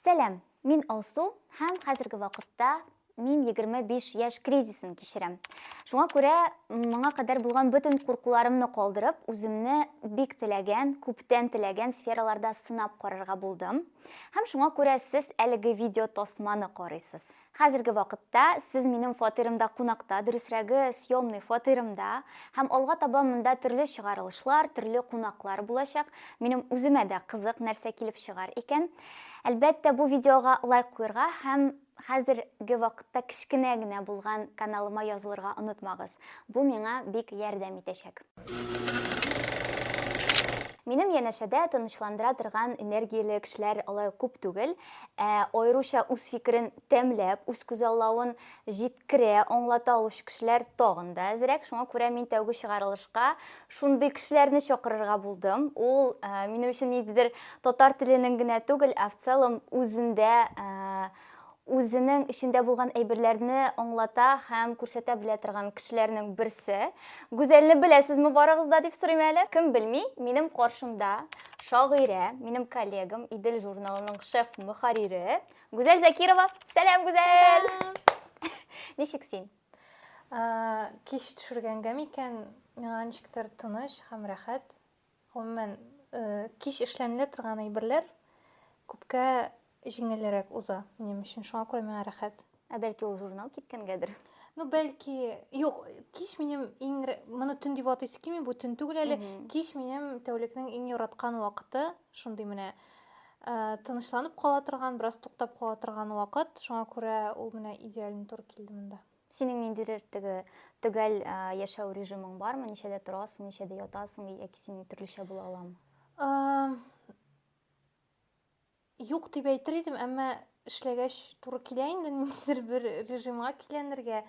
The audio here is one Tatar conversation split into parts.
Сәлам, мин Алсу һәм хәзерге вакытта мин 25 яшь кризисын кичерәм. Шуңа күрә моңа кадәр булган бөтен куркуларымны калдырып, үземне бик теләгән, күптән теләгән сфераларда сынап карарга булдым. Һәм шуңа күрә сез әлеге видео тасманы карыйсыз. Хәзерге вакытта сез минем фатирымда кунакта, дөресрәге, съемный фатирымда, һәм алга таба монда төрле чыгарылышлар, төрле кунаклар булачак. Минем үземә дә кызык, нәрсә килеп чыгар икән. Әлбәттә, бу видеога лайк куерга һәм хәзерге вакытта кечкенә генә булган каналыма язылырга онытмагыз. Бу миңа бик ярдәм итәчәк. Минем янәшәдә тынычландыра торган энергияле кешеләр алай күп түгел. Ә аеруча үз фикерен тәмләп, үз күзаллавын җиткерә, аңлата алучы кешеләр тагын да әзрәк. Шуңа күрә мин тәүге чыгарылышка шундый кешеләрне чакырырга булдым. Ул ә, минем өчен ниндидер татар теленең генә түгел, ә в целом үзендә ә, үзенең эчендә булган әйберләрне аңлата һәм күрсәтә белә торган кешеләрнең берсе. Гүзәлне беләсезме барыгыз да дип сорыйм әле. Кем белми, минем каршымда шагыйрә, минем коллегам Идел журналының шеф мөхәррире Гүзәл Закирова. Сәлам, Гүзәл! Ничек син? Кич төшергәнгә микән, миңа ничектер тыныч һәм рәхәт. Гомумән, кич эшләнелә торган әйберләр күпкә җиңелрәк уза минем өчен. Шуңа күрә миңа рәхәт. Ә бәлки ул журнал киткәнгәдер? Ну, бәлки, юк, кич минем иң моны төн дип атыйсы килми, бу төн түгел әле. Кич минем тәүлекнең иң яраткан вакыты, шундый менә тынычланып кала торган, бераз туктап кала торган вакыт. Шуңа күрә ул менә идеально туры килде монда. Синең ниндидер теге төгәл яшәү режимың бармы? Ничәдә торасың, ничәдә ятасың, яки син төрлечә була аламы? Юк дип әйтер идем, әмма эшләгәч туры килә инде ниндидер бер режимга киләнергә.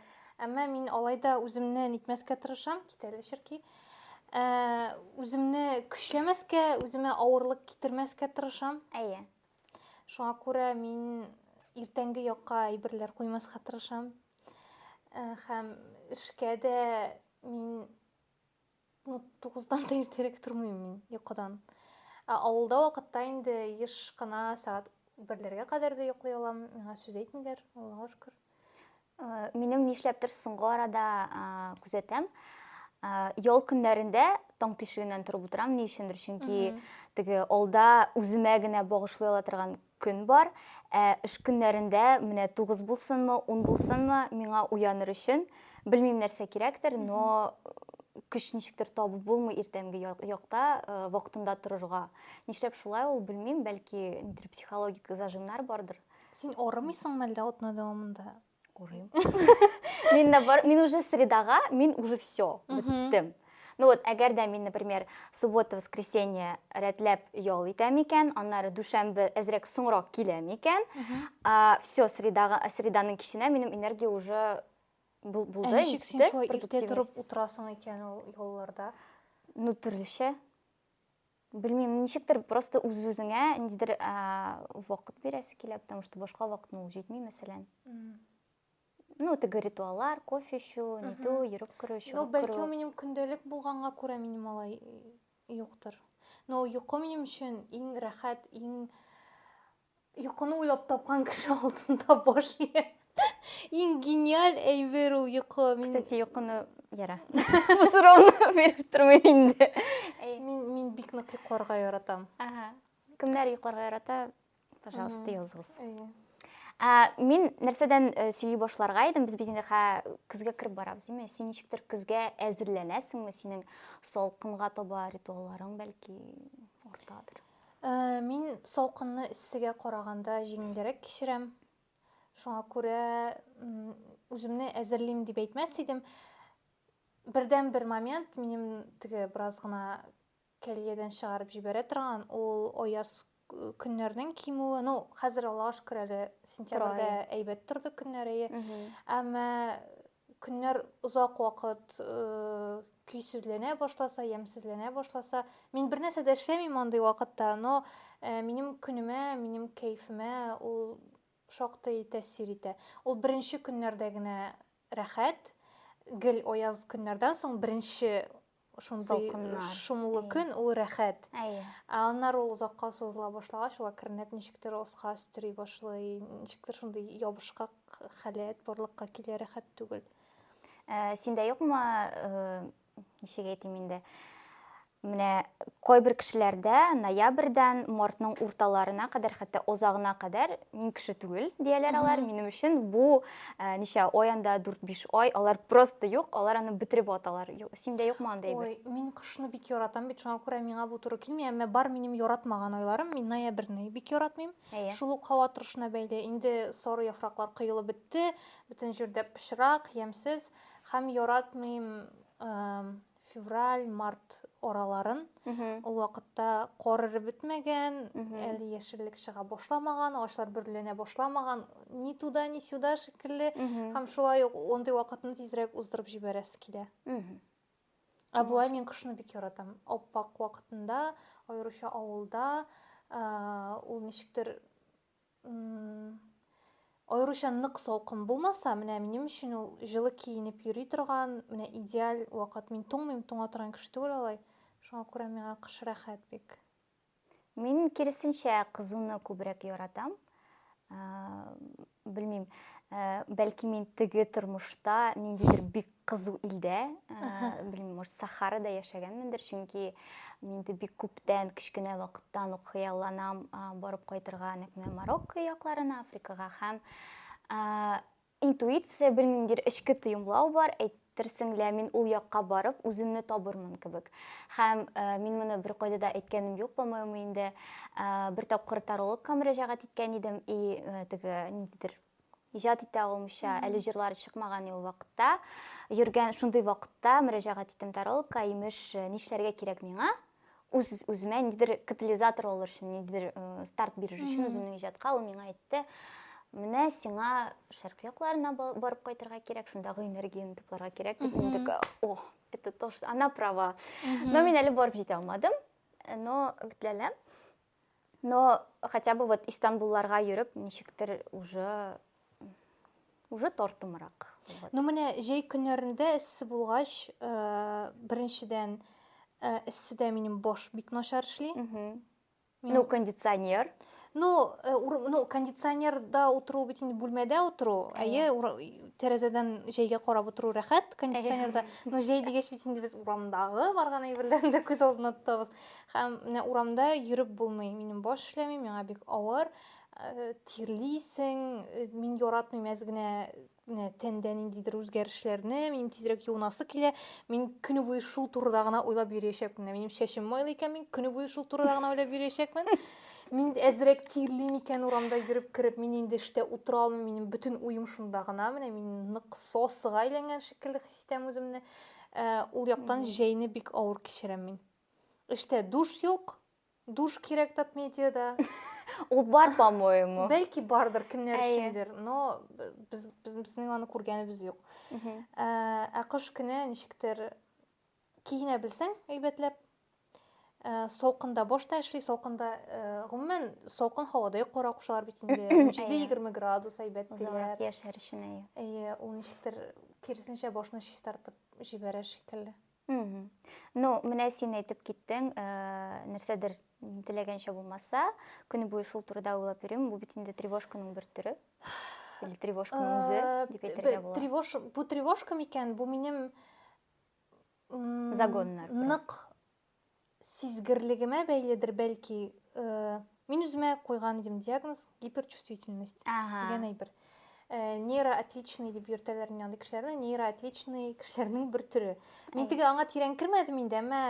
Әмма мин алай да үземне нитмәскә тырышам, китәле черки. Ә, үземне көчләмәскә, үземә авырлык китермәскә тырышам. Әйе. Шуңа күрә мин иртәнге якка әйберләр куймаска тырышам. Э, һәм эшкә дә мин ну, тугыздан да иртәрәк тормыйм мин йокыдан. Ә авылда вакытта инде еш кына сәгать берләргә кадәр дә йоклый алам. Миңа сүз әйтмиләр, Аллага шөкер. Э, минем нишләптер соңгы арада э, күзәтәм э, ял көннәрендә таң тишегеннән торып утырам ни өчендер чөнки теге алда үземә генә багышлый ала торган көн бар ә эш көннәрендә менә тугыз булсынмы ун булсынмы миңа уяныр өчен белмим нәрсә кирәктер но көч ничектер табып булмый иртәнге якта вакытында торырга нишләп шулай ул белмим бәлки нидер психологик зажимнар бардыр Син орымыйсың мәллә атна дәвамында? Орыйм. Мин бар, мин уже средага, мин уже все, беттем. Ну вот, әгәр дә мин, например, суббота, воскресенье рәтләп ял итәм икән, аннары дүшәмбе әзрәк соңрак киләм икән, все, средага, среданың киченә минем энергия уже булды. Ә ничек син шулай иртә торып утырасың икән ул ялларда? Ну, төрлечә. Белмим, ничектер просто үз-үзеңә ниндидер вакыт бирәсе килә, потому что башка вакытны ул җитми, мәсәлән. Ну, теге ритуаллар, кофе эчү, нитү, йөреп керү, чыгып керү. Ну, бәлки ул минем көндәлек булганга күрә минем алай юктыр. Но йокы минем өчен иң рәхәт, иң Йокыны уйлап тапкан кеше алдында баш ия. Иң гениаль әйбер ул йокы. Мин... Кстати, йокыны яра. Бу сорауны биреп тормыйм инде. Мин мин бик нык йокларга яратам. Ага. Кемнәр йокларга ярата? Пожалуйста, языгыз. Ә, мин нәрсәдән э, сөйли башларга идем, без бит инде хә көзгә кереп барабыз, димме? Син ничектер көзгә әзерләнәсеңме? Синең салкынга таба ритуалларың бәлки уртадыр. Ә, мин салкынны эссегә караганда җиңелрәк кичерәм. Шуңа күрә үземне әзерлим дип әйтмәс идем. Бердән бер момент минем теге бераз гына кәлиядән чыгарып җибәрә торган ул аяз көннәрнең кимүе. Ну, хәзер Аллага шөкер әле сентябрьдә әйбәт торды көннәр әйе. Әмма Көннәр озак вакыт көйсезләнә башласа, ямьсезләнә башласа, мин бернәрсә дә эшләмим андый вакытта, но минем көнемә, минем кәефемә ул шактый тәэсир итә. Ул беренче көннәрдә генә рәхәт, гел аяз көннәрдән соң беренче шундый шомлы көн, ул рәхәт. Әйе. Ә аннары ул озакка сузыла башлагач, ул әкренләп ничектер оска өстери башлый, ничектер шундый ябышкак халәт барлыкка килә, рәхәт түгел. Ә, синдә юкмы, э, ничек әйтим инде? Менә кайбер кешеләрдә ноябрьдән мартның урталарына кадәр, хәтта озагына кадәр мин кеше түгел дияләр алар. Минем өчен бу ә, ничә ай анда дүрт-биш ай алар просто юк алар аны бетереп аталар синдә юкмы андай әйбер ой мин кышны бик яратам бит шуңа күрә миңа бу туры килми әмма бар минем яратмаган айларым мин ноябрьне бик яратмыйм әйе шул ук һава торышына бәйле инде соры яфраклар коелып бетте бөтен җирдә пычрак ямьсез һәм яратмыйм февраль, март араларын. Ул вакытта кар эреп бетмәгән, әле яшеллек чыга башламаган, агачлар бөрленә башламаган, ни туда, ни сюда шикелле. Һәм шулай ук ондый вакытны тизрәк уздырып җибәрәсе килә. Ә болай мин кышны бик яратам. Аппак вакытында, аеруча авылда, ул ничектер Аеруча нык салкын булмаса, менә минем өчен ул җылы киенеп йөри торган, менә идеаль вакыт. Мин туңмыйм, туңа торган кеше түгел алай. Шуңа күрә миңа кыш рәхәт бик. Мин киресенчә кызуны күбрәк яратам. Белмим, бәлки мин теге тормышта ниндидер бик кызу илдә, белмим, может, Сахарада яшәгәнмендер, чөнки мин инде бик күптән, кечкенә вакыттан ук хыялланам барып кайтырга нәкъ менә Марокко якларына, Африкага һәм интуиция, белмимдер, эчке тоемлау бар, әйтерсең лә мин ул якка барып үземне табырмын кебек. Һәм мин моны беркайда да әйткәнем юк, по-моему, инде бер тапкыр тарологка мөрәҗәгать иткән идем, и теге ниндидер иҗат итә алмыйча әле җырлары чыкмаган ул вакытта йөргән шундый вакытта мөрәҗәгать иттем таролка имеш э, нишләргә кирәк миңа үз үземә ниндидер катализатор алыр өчен ниндидер э, старт бирер өчен үземнең иҗатка ул миңа әйтте менә сиңа шәркы якларына барып кайтырга кирәк шундагы энергияне тупларга кирәк дип мин такая о это то что она права но мин әле барып җитә алмадым но битләләм Но хотя бы вот Истанбулларга йөреп, ничектер уже уже тартымрак. Вот. Ну менә җәй көннәрендә эссе булгач, э, беренчедән э, эсседә минем баш бик начар эшли. Ну, кондиционер. Ну, э, ур, ну кондиционерда утыру бит инде бүлмәдә утыру, әйе, тәрәзәдән җәйгә карап утыру рәхәт кондиционерда. Но җәй дигәч бит инде без урамдагы барган әйберләрне дә күз алдына тотабыз. Һәм менә урамда йөреп булмый. Минем баш эшләми, миңа бик авыр. Э, тирлисең, э, мин яратмыйм әз генә менә тәндә ниндидер үзгәрешләрне, минем тизрәк юынасы килә. Мин көне буе шул турыда гына уйлап йөриячәкмен. Минем шәшем майлы икән, мин көне буе шул турыда гына уйлап йөриячәкмен. Мин әзрәк тирлим икән урамда йөреп кереп, мин инде эштә утыра алмыйм, минем бөтен уем шунда гына. Менә мин нык сосыга әйләнгән шикелле хис итәм үземне. Э, ул яктан җәйне бик авыр кичерәм мин. Эштә душ юк. Душ кирәк татмедиада. Ул бар, по-моему. Бәлки бардыр кемнәр өчендер, но без безнең аны күргәнебез юк. Ә, ә кыш көне ничектер киенә белсәң, әйбәтләп. Ә, салкында баш та эшли, салкында, ә, гомумән, салкын һавада йокларга кушалар бит инде. 17-20 градус әйбәт диләр. Яшәр өчен әйе. Әйе, ул ничектер киресенчә башны чистартып җибәрә шикелле. Ну, менә син әйтеп киттең, э, нәрсәдер теләгәнчә булмаса, көне буе шул турыда уйлап йөрим, бу бит инде тревожканың бер төре. Или тревожканың э, үзе дип әйтергә була. Тревож, бу тревожка микән? Бу минем загоннар. Нык сизгерлегемә бәйледер, бәлки, мин үземә куйган идем диагноз гиперчувствительность ага. дигән әйбер. Э, нейроотличный дип йөртәләр инде андый кешеләрне, нейроотличный кешеләрнең бер төре. Мин теге аңа тирән кермәдем инде, әмма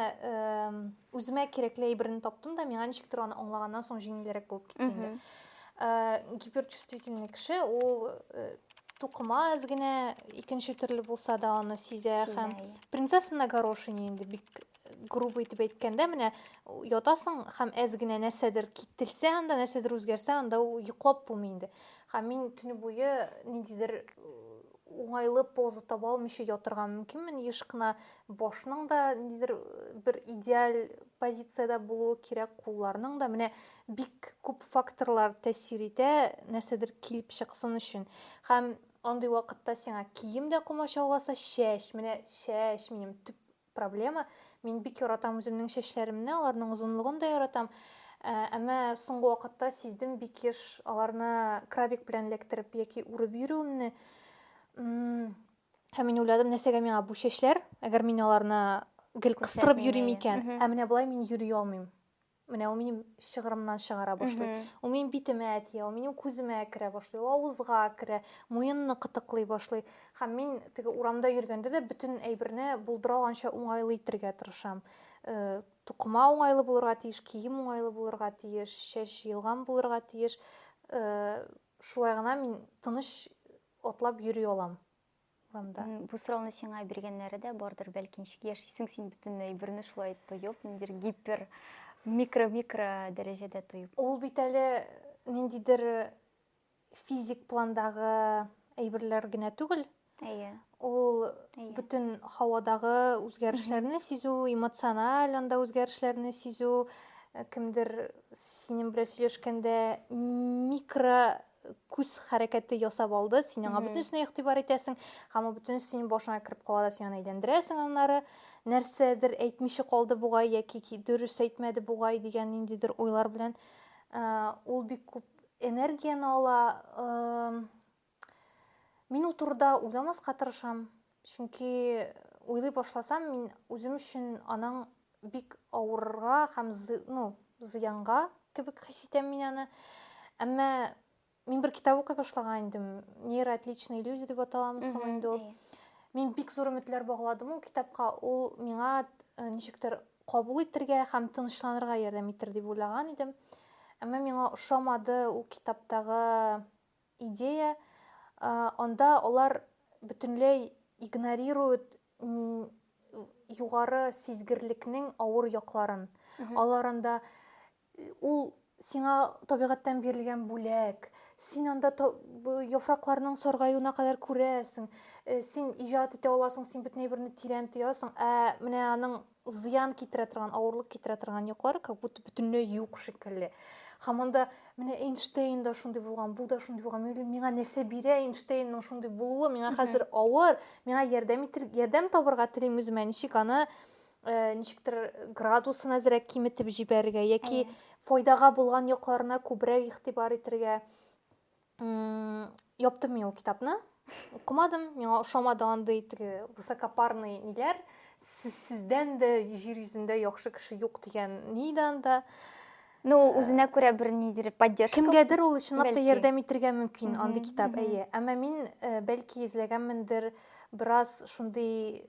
үземә кирәкле әйберне таптым да, миңа ничектер аны аңлаганнан соң җиңелрәк булып китте инде. Э, гиперчувствительный кеше ул э, тукымаз генә икенче төрле булса да аны сизә һәм принцесса на горошине инде бик грубо итеп әйткәндә менә ятасың һәм әз генә нәрсәдер кителсә анда нәрсәдер үзгәрсә анда ул йоклап булмый инде һәм мин төне буе ниндидер уңайлы поза таба алмыйча ятырга мөмкинмен еш кына башның да ниндидер бер идеаль позициядә булуы кирәк кулларның да менә бик күп факторлар тәэсир итә нәрсәдер килеп чыксын өчен һәм андый вакытта сиңа кием дә комачауласа чәч менә чәч минем төп проблема. Мин бик яратам үземнең чәчләремне, аларның озынлыгын да яратам. Ә, әмма соңгы вакытта сиздем бик еш аларны крабик белән эләктереп яки үреп йөрүемне. Һәм мин уйладым, нәрсәгә миңа бу чәчләр, әгәр мин аларны гел кыстырып йөрим икән, ә менә болай мин йөри алмыйм. менә ул минем шыгырымнан чыгара башлый ул минем битемә тия ул минем күземә керә башлый ул авызга керә муенны кытыклый башлый һәм мин теге урамда йөргәндә дә бөтен әйберне булдыра алганча уңайлы итергә тырышам э, тукыма уңайлы булырга тиеш кием уңайлы булырга тиеш чәч җыелган булырга тиеш э, шулай гына мин тыныч атлап йөри алам урамда. Бу сорауны сиңа биргәннәре дә бардыр, бәлки ничек яшисең син бөтенләй берне шулай тоеп, ниндидер гипер микро-микро дәрәҗәдә тоеп. Ул бит әле ниндидер физик пландагы әйберләр генә түгел. Әйе. Ул Әйе. бөтен һавадагы үзгәрешләрне сизү, эмоциональ анда үзгәрешләрне сизү, э, кемдер синең белән сөйләшкәндә микро күз хәрәкәте ясап алды, син аңа бөтенесенә игътибар итәсең, һәм ул бөтенесе синең башыңа кереп кала да син аны әйләндерәсең, аннары нәрсәдер әйтмичә калды бугай яки дөрес әйтмәде бугай дигән ниндидер уйлар белән ул бик күп энергияне ала. Мин ул турыда уйламаска тырышам. Чөнки уйлый башласам, мин үзем өчен аның бик авырырга һәм ну, зыянга кебек хис итәм мин аны. Әмма мин бер китап укый башлаган идем. Нейроотличные люди дип аталамы соң инде ул. Мин бик зур өметләр багладым ул китапка. Ул миңа э, ничектер кабул итәргә һәм тынычланырга ярдәм итер дип уйлаган идем. Әмма миңа ошамады ул китаптагы идея, анда алар бөтенләй игнорируют югары сизгерлекнең авыр якларын. Алар анда ул сиңа табигатьтән бирелгән бүләк, син анда яфракларның саргаюына кадәр күрәсең, син иҗат итә аласың, син бөтен әйберне тирән тоясың, ә менә аның зыян китерә торган авырлык китерә торган яклары как будто бөтенләй юк шикелле һәм анда менә эйнштейн да шундый булган бу да шундый булган миңа нәрсә бирә эйнштейнның шундый булуы миңа хәзер авыр миңа ярдәм итер ярдәм табырга телим үземә ничек аны э, ничектер градусын әзрәк киметеп җибәрергә яки файдага булган якларына күбрәк игътибар итәргә Яптым мин ул китапны. Укымадым, миңа ошамады андый теге высокопарный ниләр. Сездән дә җир йөзендә яхшы кеше юк дигән ни иде анда. Ну, э, үзенә күрә бер нидер поддержка. Кемгәдер ул чынлап та ярдәм итергә мөмкин андый китап, әйе. Әмма мин э, бәлки эзләгәнмендер бераз шундый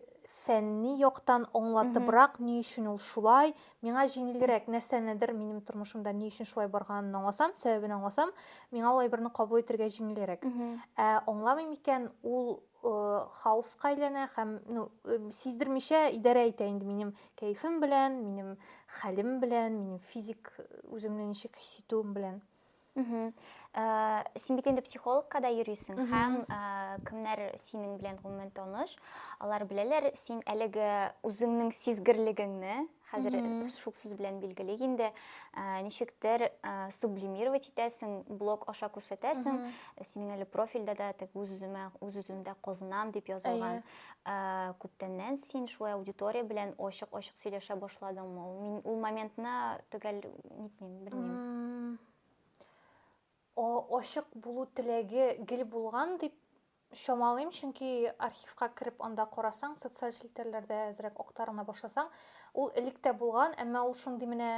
фәнни яктан аңлатыбрак, ни өчен ул шулай, Миңа җиңелрәк нәрсәнедер минем тормышымда ни өчен шулай барганын аңласам, сәбәбен аңласам, миңа улай берне кабул итергә җиңелрәк. Ә аңламыйм икән, ул хаоска әйләнә һәм ну, сиздермичә идарә итә инде минем кәефем белән, минем хәлем белән, минем физик үземне ничек хис итүем белән. Э, син бит инде психологка да йөрисең һәм э, кемнәр синең белән гомумән таныш алар беләләр син әлеге үзеңнең сизгерлегеңне хәзер шул сүз белән билгелик инде э, ничектер сублимировать итәсең блог аша күрсәтәсең синең әле профильдә дә тег үз үземә үз үземдә казынам дип язылган Ә, күптәннән син шулай аудитория белән ачык-ачык сөйләшә башладыңмы? Ул мин ул моментны төгәл нитмим, белмим. О, ачык булу теләге гел булган дип чамалыйм, чөнки архивка кереп анда карасаң, социаль челтәрләрдә әзрәк актарына башласаң, ул элек тә булган, әмма ул шундый менә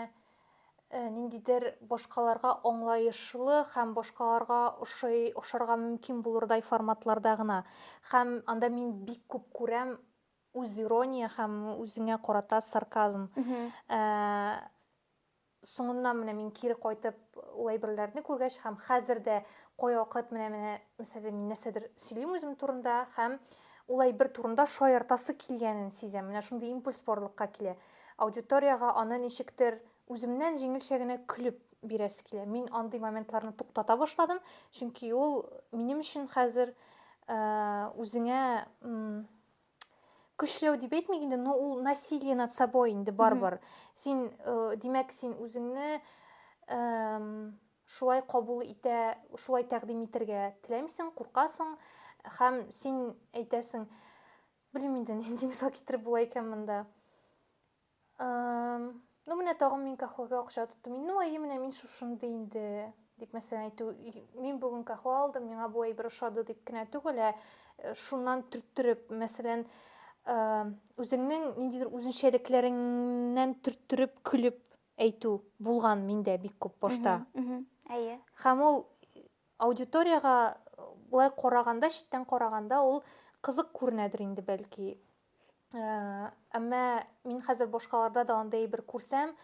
Э, ниндидер башкаларга аңлаешлы һәм башкаларга ошый ошарга мөмкин булырдай форматларда гына һәм анда мин бик күп күрәм үз ирония һәм үзеңә карата сарказм э, соңыннан менә мин кире кайтып ул әйберләрне күргәч һәм хәзер дә кайвакыт менә менә мәсәлән мин нәрсәдер сөйлим үзем турында һәм ул әйбер турында шаяртасы килгәнен сизәм менә шундый импульс барлыкка килә Аудиториягә аны ничектер үземнән җиңелчә генә көлеп бирәсе килә. Мин андый моментларны туктата башладым, чөнки ул минем өчен хәзер үзеңә көчләү дип әйтмик инде, но ул насилие над собой инде барбар. Син, димәк, син үзеңне шулай кабул итә, шулай тәкъдим итәргә теләмисең, куркасың һәм син әйтәсең, Белмим инде, нинди мисал китереп була икән монда. Ну, менә тагын мин кахвага акча тоттым. Ну, әйе, менә мин шушынды инде, дип мәсәлән әйтү. Мин бүген кахва алдым, миңа бу әйбер ошады дип кенә түгел, ә э, шуннан төрттереп, мәсәлән, үзеңнең ниндидер үзенчәлекләреңнән төрттереп көлеп әйтү булган миндә бик күп башта. Әйе. Һәм ул Аудиториягә болай караганда, читтән караганда ул кызык күренәдер инде бәлки. Әмма мин хәзер башкаларда да андый әйбер күрсәм,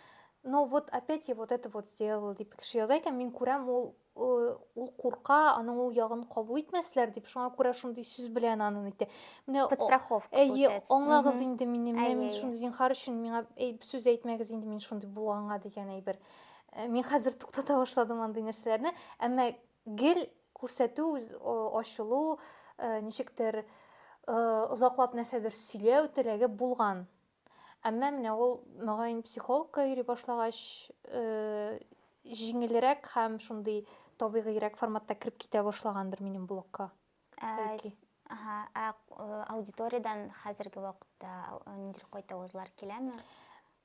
но вот опять я вот это вот сделал дип кеше яза икән, мин күрәм, ул ул курка, аның ул ягын кабул итмәсләр дип, шуңа күрә шундый сүз белән аны нитә. Менә страховка. Әйе, аңлагыз инде мине, менә мин шундый зинхар өчен миңа сүз әйтмәгез инде мин шундый булганга дигән әйбер. Э, мин хәзер туктата башладым андый нәрсәләрне әмма гел күрсәтү ачылу э, ничектер э, озаклап нәрсәдер сөйләү теләге булган әмма менә ул мөгаен психологка йөри башлагач җиңелрәк һәм шундый табигыйрәк форматта кереп китә башлагандыр минем блогка аудиториядан хәзерге вакытта ниндидер кайтавызлар киләме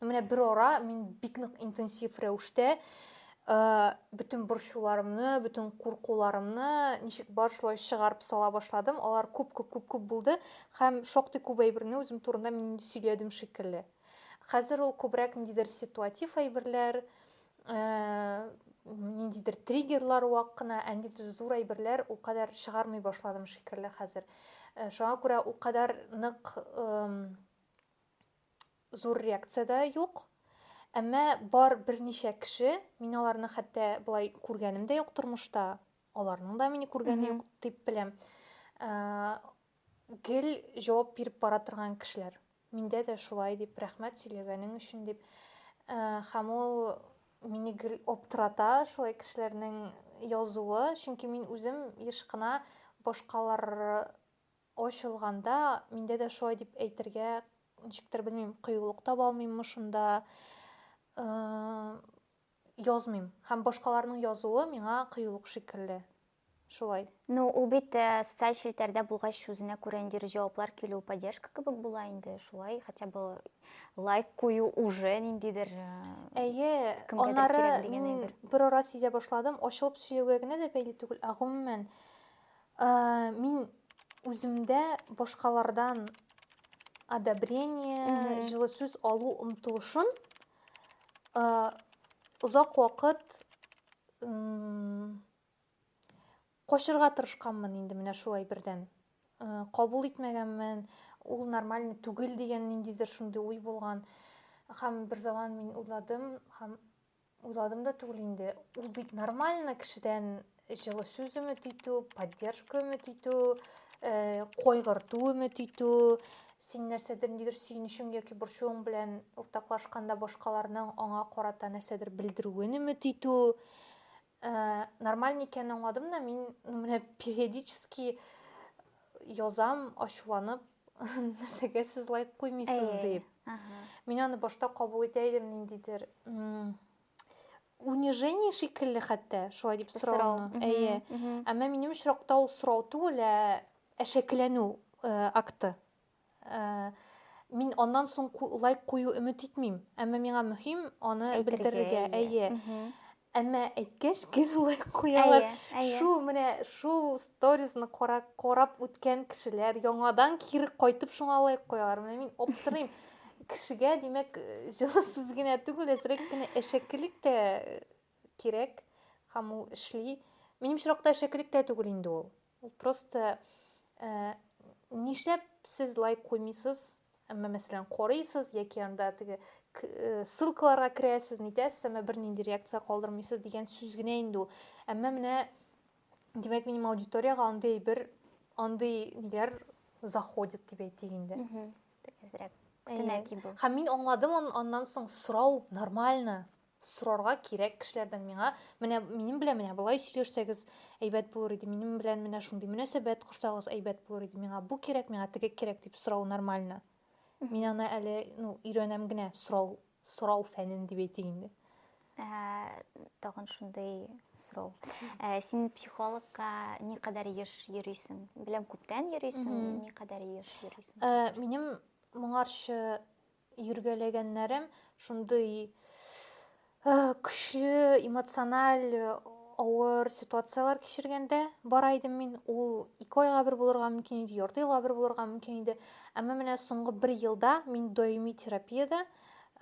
Менә бер ара мин бик нык интенсив рәвештә Э, бүтін борчуларымны бүтін куркуларымны ничек бар шулай чыгарып сала башладым алар көп көп көп көп болды һәм шактый көп әйберне үзем турында мин инде сөйләдем шикелле хәзер ул күбрәк ниндидер ситуатив әйберләр э, ниндидер триггерлар вак кына ә ниндидер зур әйберләр ул кадәр чыгармый башладым шикелле хәзер э, шуңа күрә ул кадәр нык Зур реакция дә юк. Әмма бар берничә кеше, мин аларны хәтта болай күргәнем дә юк тормышта, аларның да мине күргәне юк дип беләм. Гел җавап биреп бара торган кешеләр. Миндә дә шулай дип, рәхмәт сөйләгәнең өчен дип. Һәм ул мине гел аптырата шулай кешеләрнең язуы, чөнки мин үзем еш кына башкалар Ачылганда, миндә дә шулай дип әйтергә, ничектер белмим, кыюлык таба алмыйммы шунда, язмыйм. Һәм башкаларның язуы миңа кыюлык шикелле. Шулай. Ну, ул бит социаль челтәрдә булгач, үзенә күрә ниндидер җаваплар килү, поддержка кебек була инде. Шулай хотя бы лайк кую уже ниндидер Әйе, аннары мин берара сизә башладым, ачылып сөйләүгә генә дә бәйле түгел, ә гомумән Мин үземдә башкалардан одобрение, җылы сүз алу омтылышын озак вакыт качырга тырышканмын инде менә шулай бердән. Кабул итмәгәнмен, ул нормальный түгел дигән ниндидер шундый уй булган. Һәм бер заман мин уйладым һәм Уйладым да түгел инде. Ул бит нормально кешедән җылы сүз өмет итү, поддержка өмет итү, э, кайгырту өмет итү, син нәрсәдер нидер сөенечең яки борчуың белән уртаклашканда башкаларның аңа карата нәрсәдер белдерүен өмет итү. Э, нормаль икәнен аңладым да, мин менә периодически язам, ачуланып, нәрсәгә сез лайк куймыйсыз дип мин аны башта кабул итә идем ниндидер унижение шикелле хәтта шулай дип сорауны әйе әмма минем очракта ул сорау түгел ә әшәкеләнү э, акты э, мин аннан соң лайк кую өмет итмим әмма миңа мөһим аны белдерергә әйе Әмма әйткәч, гел лайк куялар. Шул менә шул сторизны карап, карап үткән кешеләр яңадан кире кайтып шуңа лайк куялар. Менә мин аптырыйм. Кешегә, димәк, җылы сүз генә түгел, әзрәк кенә әшәкелек тә кирәк һәм ул эшли. Минем очракта әшәкелек тә түгел инде ул. Ул просто э, нишләп сез лайк куймыйсыз? Әмма мәсәлән, карыйсыз яки анда теге э, ссылкаларга керәсез, нитәсез, әмма бернинди реакция калдырмыйсыз дигән сүз генә инде ул. Әмма менә димәк, минем аудиториягә андый бер андый ниләр заходит дип әйтик инде. Әзрәк. Һәм мин аңладым аннан соң сорау нормально. Сорарга кирәк кешеләрдән миңа, менә минем белән менә болай сөйләшсәгез, әйбәт булыр иде, минем белән менә шундый мөнәсәбәт корсагыз, әйбәт булыр иде, миңа бу кирәк, миңа теге кирәк дип сорау нормально. Мин аны әле, ну, өйрәнәм генә, сорау, сорау фәнен дип әйтик инде. Тагын шундый сорау. Син психологка ни кадәр еш йөрисең? Беләм, күптән йөрисең, ни кадәр еш йөрисең? Минем моңарчы йөргәләгәннәрем шундый көчле эмоциональ авыр ситуацияләр кичергәндә бара идем мин ул ике айга бер булырга мөмкин иде ярты елга бер булырга мөмкин иде әмма менә соңгы бер елда мин даими терапиядә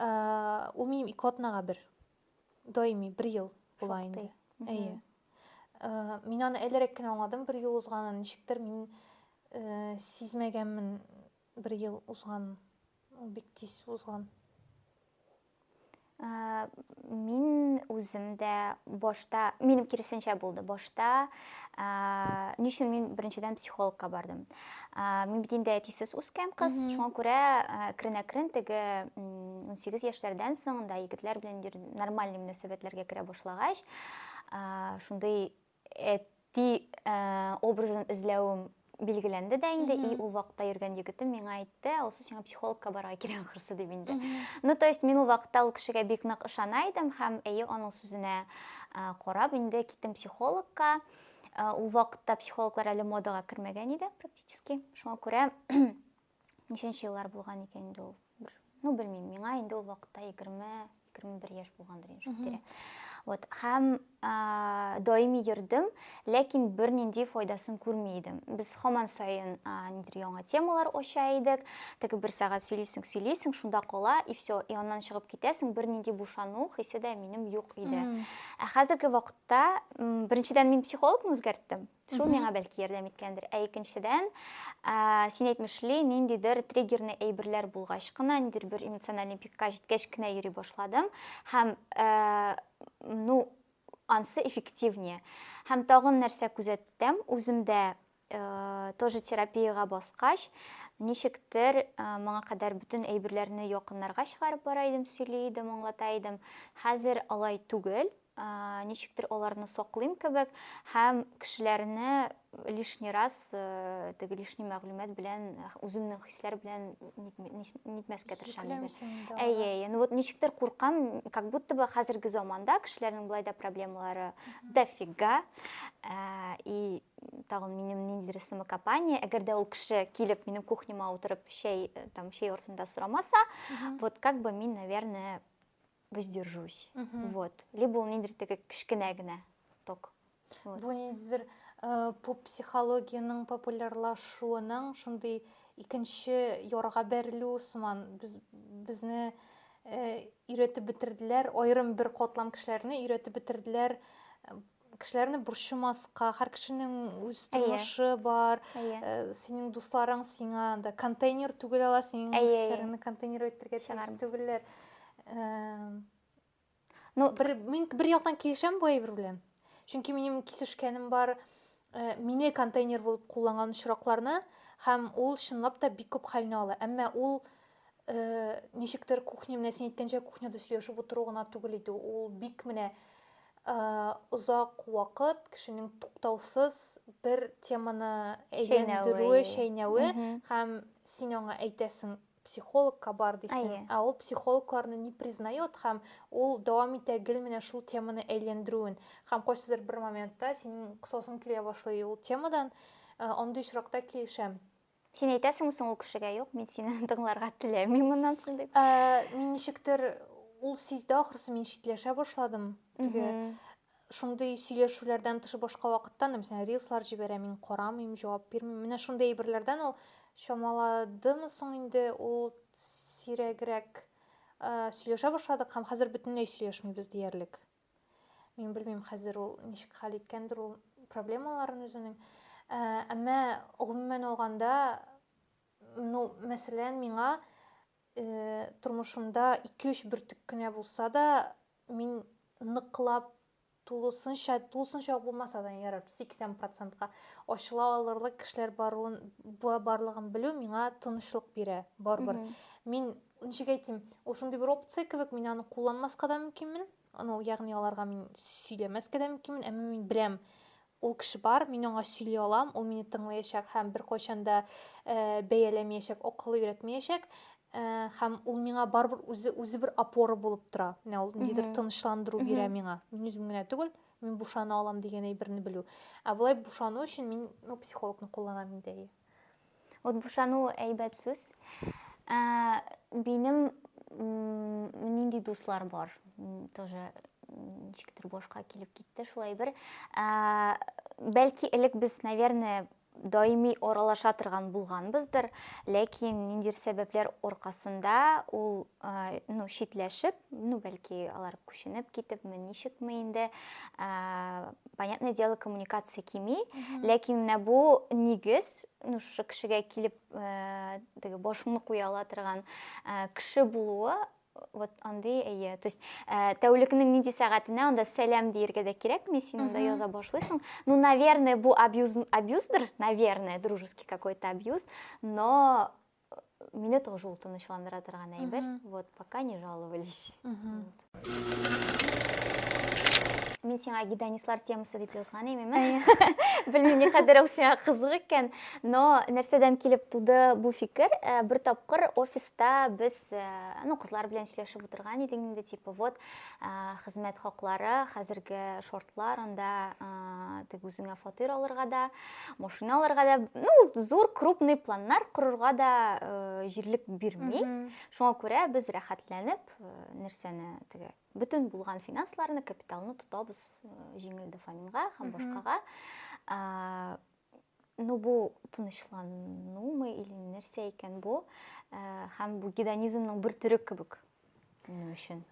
ул минем ике атнага бер даими бер ел була инде әйе мин аны әлерәк кенә аңладым бер ел узганын ничектер мин сизмәгәнмен Бер ел узган, ул бик тиз узган. Мин үзем дә башта, минем киресенчә булды. Башта ни өчен мин беренчедән психологка бардым. Мин бит инде әтисез үскән кыз, шуңа күрә әкрен-әкрен теге 18 яшьләрдән соң да егетләр белән нормаль мөнәсәбәтләргә керә башлагач, шундый Әти образын эзләвем билгеләнде дә инде, и ул вакытта йөргән егетем миңа әйтте, Алсу, сиңа психологка барырга кирәк ахрысы дип инде. Ну, то есть мин ул вакытта ул кешегә бик нык ышана идем һәм әйе аның сүзенә карап инде киттем психологка. Ул вакытта психологлар әле модага кермәгән иде практически. Шуңа күрә Ничәнче еллар булган икән инде ул? Бер, ну белмим, миңа инде ул вакытта 20-21 яшь булгандыр инде шул тирә. Вот, һәм ә, даими йөрдем, ләкин бернинди файдасын күрми идем. Без һаман саен ә, нидер яңа темалар ача идек. Теге бер сәгать сөйлисең, сөйлисең, шунда кала и все, и аннан чыгып китәсең, бернинди бушану хисе дә минем юк иде. Ә хәзерге вакытта, м, беренчедән мин психологны үзгәрттем. Шул Мгм. миңа бәлки ярдәм иткәндер. Ә икенчедән, ә, син әйтмешли, ниндидер триггерный әйберләр булгач кына, ниндидер бер эмоциональный пикка җиткәч кенә йөри башладым. Һәм, ә, ну, ансы эффективнее. Һәм тагын нәрсә күзәттем, үземдә, ә, тоже терапиягә баскач, ничектер, ә, моңа кадәр бөтен әйберләрне якыннарга чыгарып бара идем, сөйли идем, аңлата идем. Хәзер алай түгел. ничектер аларны саклыйм кебек һәм кешеләрне лишний раз теге лишний мәгълүмат белән үземнең хисләр белән нитмәскә тырышам әйе әйе ну вот ничектер куркам как будто бы хәзерге заманда кешеләрнең болай да проблемалары дофига и тагын минем ниндидер самокопание әгәр дә ул кеше килеп минем кухняма утырып чәй там чәй артында сорамаса вот как бы мин наверное воздержусь. Угу. Вот. Либо ул ниндидер теге кечкенә генә ток. Вот. Бу ниндидер э, поп психологиянең популярлашуының шундый икенче ярга бәрелү сыман без, безне э, өйрәтеп бетерделәр, аерым бер катлам кешеләрне өйрәтеп бетерделәр э, кешеләрне борчымаска һәр кешенең үз тормышы бар э, синең дусларың сиңа анда контейнер түгел ала синең кешеләреңне контейнер итәргә тиеш түгелләр ну бер мин бер яктан килешәм бу әйбер белән чөнки минем кисешкәнем бар э, мине контейнер булып кулланган очракларны һәм ул чынлап та бик күп хәлне ала әмма ул Э, ничектер кухня менә син әйткәнчә кухняда сөйләшеп утыру гына түгел иде ул бик менә э, озак вакыт кешенең туктаусыз бер теманы әйләндерүе чәйнәве һәм син аңа әйтәсең психологка бар дисең ә ул психологларны не признает һәм ул дәвам итә гел менә шул теманы әйләндерүен һәм кайсыдыр бер моментта синең косасың килә башлый ул темадан э, андый очракта килешәм Син әйтәсеңме соң ул кешегә, юк, мин сине тыңларга теләмим моннан соң дип? Ә, мин ничектер ул сизде ахрысы, мин читләшә башладым. Теге шундый сөйләшүләрдән тыш башка вакытта, мәсәлән, рилслар җибәрә, мин карамыйм, җавап бирмим. Менә шундый әйберләрдән ул чамаладымы соң инде ул сирәгрәк сөйләшә башладык һәм хәзер бөтенләй сөйләшмибез диярлек. Мин белмим хәзер ул ничек хәл иткәндер ул проблемаларын үзенең. Ә, әмма гомумән алганда, ну, мәсәлән, миңа э, тормышымда 2-3 бөртек кенә булса да, мин ныклап тулысынча, тулысынча булмаса да ярар, 80%-ка ачыла алырлык кешеләр баруын, барлыгын белү миңа тынычлык бирә, барбар. Мин Ничек әйтим, ул шундый бер опция кебек, мин аны кулланмаска да мөмкинмен. Ну, ягъни аларга мин сөйләмәскә дә мөмкинмен, әмма мин беләм, ул кеше бар, мин аңа сөйли алам, ул мине тыңлаячак һәм беркайчан да э, бәяләмәячәк, акылы өйрәтмәячәк э, һәм ул миңа барыбер үзе үзе бер опора булып тора. Менә ул ниндидер тынычландыру бирә миңа. Мин үзем генә түгел, мин бушана алам дигән әйберне белү. Ә болай бушану өчен мин ну, психологны кулланам инде. Вот бушану әйбәт сүз. Ә, минем нинди дуслар бар? Тоже ничектер башка килеп китте шулай бер. Ә, бәлки элек без, наверное, даими аралаша торган булганбыздыр, ләкин ниндидер сәбәпләр аркасында ул ну, читләшеп, ну, бәлки алар күченеп китепме, ничекме инде, понятное дело, коммуникация кими, ләкин менә бу нигез, ну, шушы кешегә килеп, э, теге башыңны куя ала торган э, кеше булуы, вот андый әйе то есть э, тәүлекнең нинди сәгатенә анда сәлам диергә дә кирәкми син анда яза башлыйсың ну наверное бу абьюз абьюздыр наверное дружеский какой то абьюз но Мине тоже ул тынычландыра торган әйбер. Вот, пока не жаловались. Мин сиңа гедонистлар темасы дип язган имеме? Белмим, ни кадәр ул сиңа кызык икән, но нәрсәдән килеп туды бу фикер? Э, бер тапкыр офиста без, э, ну, кызлар белән сөйләшеп утырган идек инде, типа, вот, хезмәт хаклары хәзерге шортлар анда тег үзеңә фатир алырга да машина алырга да ну зур крупный планнар корырга да җирлек бирми шуңа күрә без рәхәтләнеп нәрсәне теге бөтен булган финансларны капиталны тотабыз җиңел дофаминга һәм башкага ну бу тынычланумы или нәрсә икән бу һәм бу гедонизмның бер төре кебек минем өчен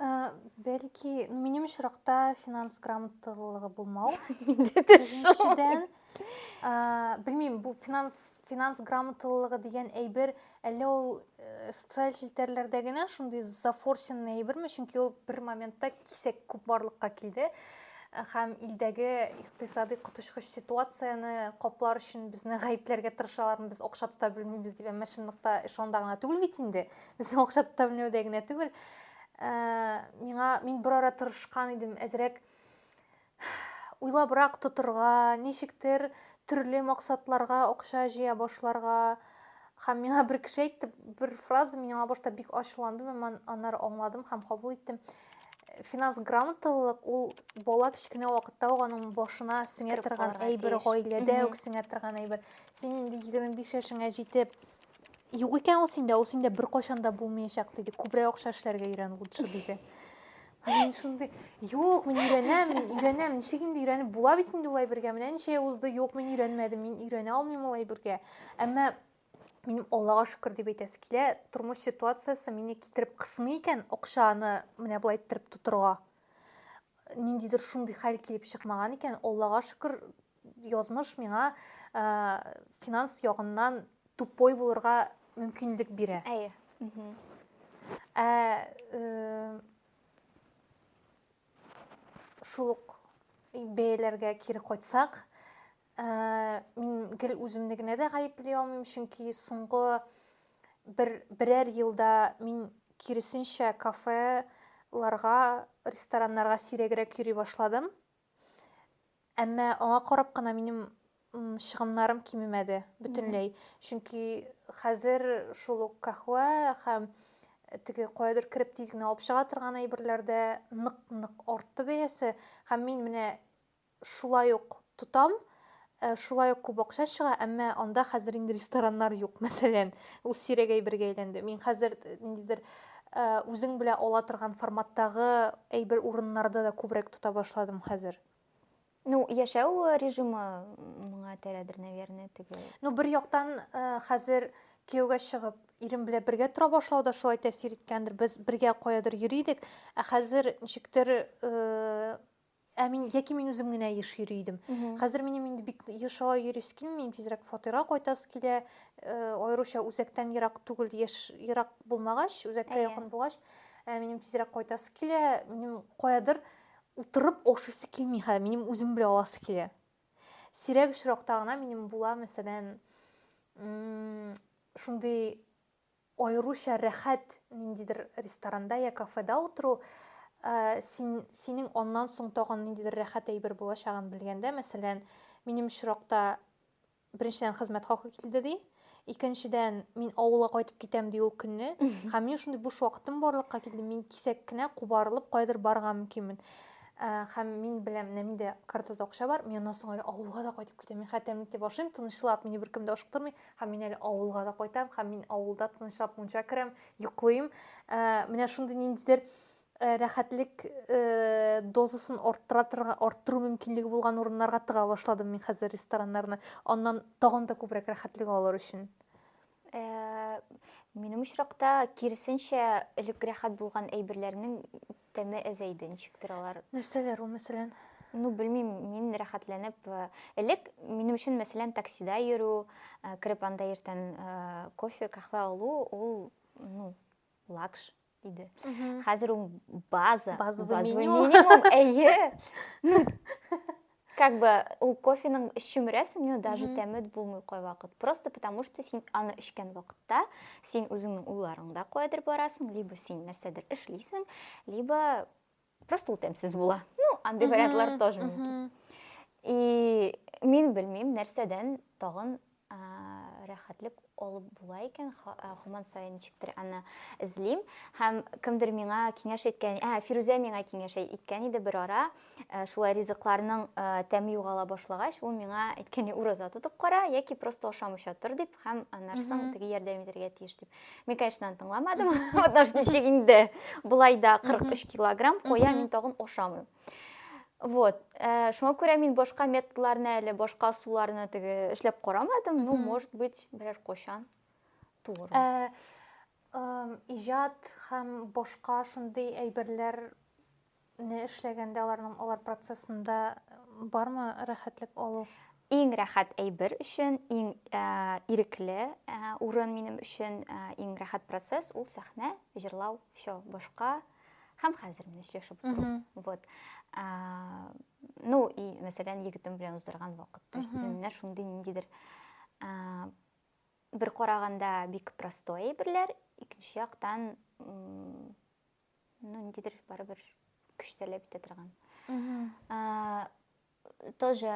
бәлки минем очракта финанс грамоталыгы булмау беренчедән белмим бу финанс финанс грамоталыгы дигән әйбер Әллә ул э, социаль челтәрләрдә генә шундый зафорсенный әйберме? Чөнки ул бер моментта кисәк күп барлыкка килде һәм илдәге икътисади коточкыч ситуацияне каплар өчен безне гаепләргә тырышалармы без акча тота белмибез дип әмма чынлыкта эш анда гына түгел бит инде безнең акча тота белмәүдә генә түгел ә, миңа мин бер ара тырышкан идем әзрәк уйлабрак тотырга, ничектер төрле максатларга акча җыя башларга. Һәм миңа бер кеше әйтте, бер фраза мин аңа башта бик ачуландым, әмма аннары аңладым һәм кабул иттем. Финанс грамоталылык ул бала кечкенә вакытта ук аның башына сеңә торган әйбер, гаиләдә үк сеңә торган әйбер. Син инде 25 яшеңә җитеп, Юк икән ул синдә, ул синдә беркайчан да булмаячак диде. Күбрәк акча эшләргә өйрән лучше диде. Мин шундый, юк, мин өйрәнәм, мин өйрәнәм, ничек инде өйрәнеп була бит инде улай бергә. Менә ничә ел узды, юк, мин өйрәнмәдем, мин өйрәнә алмыйм улай бергә. Әмма минем Аллага шөкер дип әйтәсе килә, тормыш ситуациясе мине китереп кысмый икән, акчаны менә болай иттереп тотырга. Ниндидер шундый хәл килеп чыкмаган икән, Аллага шөкер, Язмыш миңа ә, финанс ягыннан тупой булырга мөмкинлек бирә. Әйе. Ә э, шул ук бәяләргә кире кайтсак, ә, мин гел үземне генә дә гаепли алмыйм, чөнки соңгы бер берәр елда мин киресенчә кафеларга, рестораннарга сирәгрәк йөри башладым. Әмма аңа карап кына минем чыгымнарым кимемәде бөтенләй. Чөнки хәзер шул ук кахва һәм э, теге каядыр кереп тиз генә алып чыга торган әйберләрдә нык-нык артты бәясе һәм мин менә шулай ук тотам. Ә, шулай ук күп акча чыга, әмма анда хәзер инде рестораннар юк, мәсәлән. Ул сирәк әйбергә әйләнде. Мин хәзер э, ниндидер э, үзең белә ала торган форматтагы әйбер урыннарда да күбрәк тота башладым хәзер. Ну, яшәү режимы моңа терәдер, наверное, теге. Ну, бер яктан э, хәзер кияүгә чыгып, ирем белән бергә тора башлау да шулай тәэсир иткәндер. Без бергә каядыр йөри идек, ә хәзер ничектер э, Ә мин яки мин үзем генә еш йөри идем. Хәзер минем инде бик еш алай йөрис килми, тизрәк фатирга кайтасы килә. Э, аеруча үзәктән ерак түгел, яшь ерак булмагач, үзәккә якын булгач, ә минем тизрәк кайтасы килә. Минем каядыр утырып ашыйсы килми хәзер, минем үзем белән аласы килә. Сирәк очракта гына минем була, мәсәлән, шундый Аеруча рәхәт ниндидер ресторанда йә кафеда утыру, син, синең аннан соң тагын ниндидер рәхәт әйбер булачагын белгәндә, мәсәлән, минем очракта, беренчедән, хезмәт хакы килде, ди, икенчедән, мин авылга кайтып китәм, ди, ул көнне, һәм минем шундый буш вакытым барлыкка килде, мин кисәк кенә кубарылып каядыр барырга мөмкинмен. Һәм мин беләм, менә миндә картада акча бар, мин аннан соң әле авылга да кайтып китәм, мин хәтта тәмлек дип ашыйм, тынычлап, мине беркем дә ашыктырмый, Һәм мин әле авылга да кайтам, һәм мин авылда тынычлап мунча керәм, йоклыйм. Ә, менә шундый ниндидер Э, рәхәтлек э, дозасын арттыра арттыру мөмкинлеге булган урыннарга тыга башладым мин хәзер рестораннарны аннан тагын да күбрәк рәхәтлек алыр өчен э, минем очракта киресенчә элек рәхәт булган әйберләрнең Тәме әзәйде, ничектер алар. Нәрсәләр ул, мәсәлән? Ну, белмим, мин рәхәтләнеп, э, элек минем өчен, мәсәлән, таксида йөрү, э, кереп анда иртән э, кофе, каһвә алу, ул, ну, лакш иде. Хәзер ул база, базовый минимум. Әйе. как бы ул кофеның эчүмрәсең ну даже тәме булмый кайвакыт просто потому что син аны эчкән вакытта син үзеңнең уйларыңда каядыр барасың либо син нәрсәдер эшлисең либо просто ул тәмсез була ну андый вариантлар тоже мөмкин и мин белмим нәрсәдән тагын рәхәтлек алып була икән, һаман саен ничектер аны эзлим. Һәм кемдер миңа киңәш әйткән, ә Фирүзә миңа киңәш әйткән иде бер ара, э, шулай ризыкларның э, тәме югала башлагач, ул миңа әйткәне ураза тотып кара яки просто ашамыйча тор дип һәм аннарсың теге ярдәм итәргә тиеш дип. Мин, конечно, аны тыңламадым. Потому что ничек инде? Болай да 43 килограмм куя, мин тагын ашамыйм. Вот. Э, шуңа күрә мин башка методларны әле, башка суларны теге эшләп карамадым. Ну, может быть, берәр кочан туыр. Э, э, иҗат һәм башка шундый әйберләр не эшләгәндә аларның алар процессында бармы рәхәтлек алу? Иң рәхәт әйбер өчен иң ирекле урын минем өчен иң рәхәт процесс ул сәхнә, җырлау, все, башка һәм хәзер менә сөйләшеп утыру. Вот. Ну, и, мәсәлән, егетем белән уздырган вакыт. То есть, менә шундый ниндидер бер караганда бик простой әйберләр, икенче яктан ну ниндидер барыбер көч таләп итә торган тоже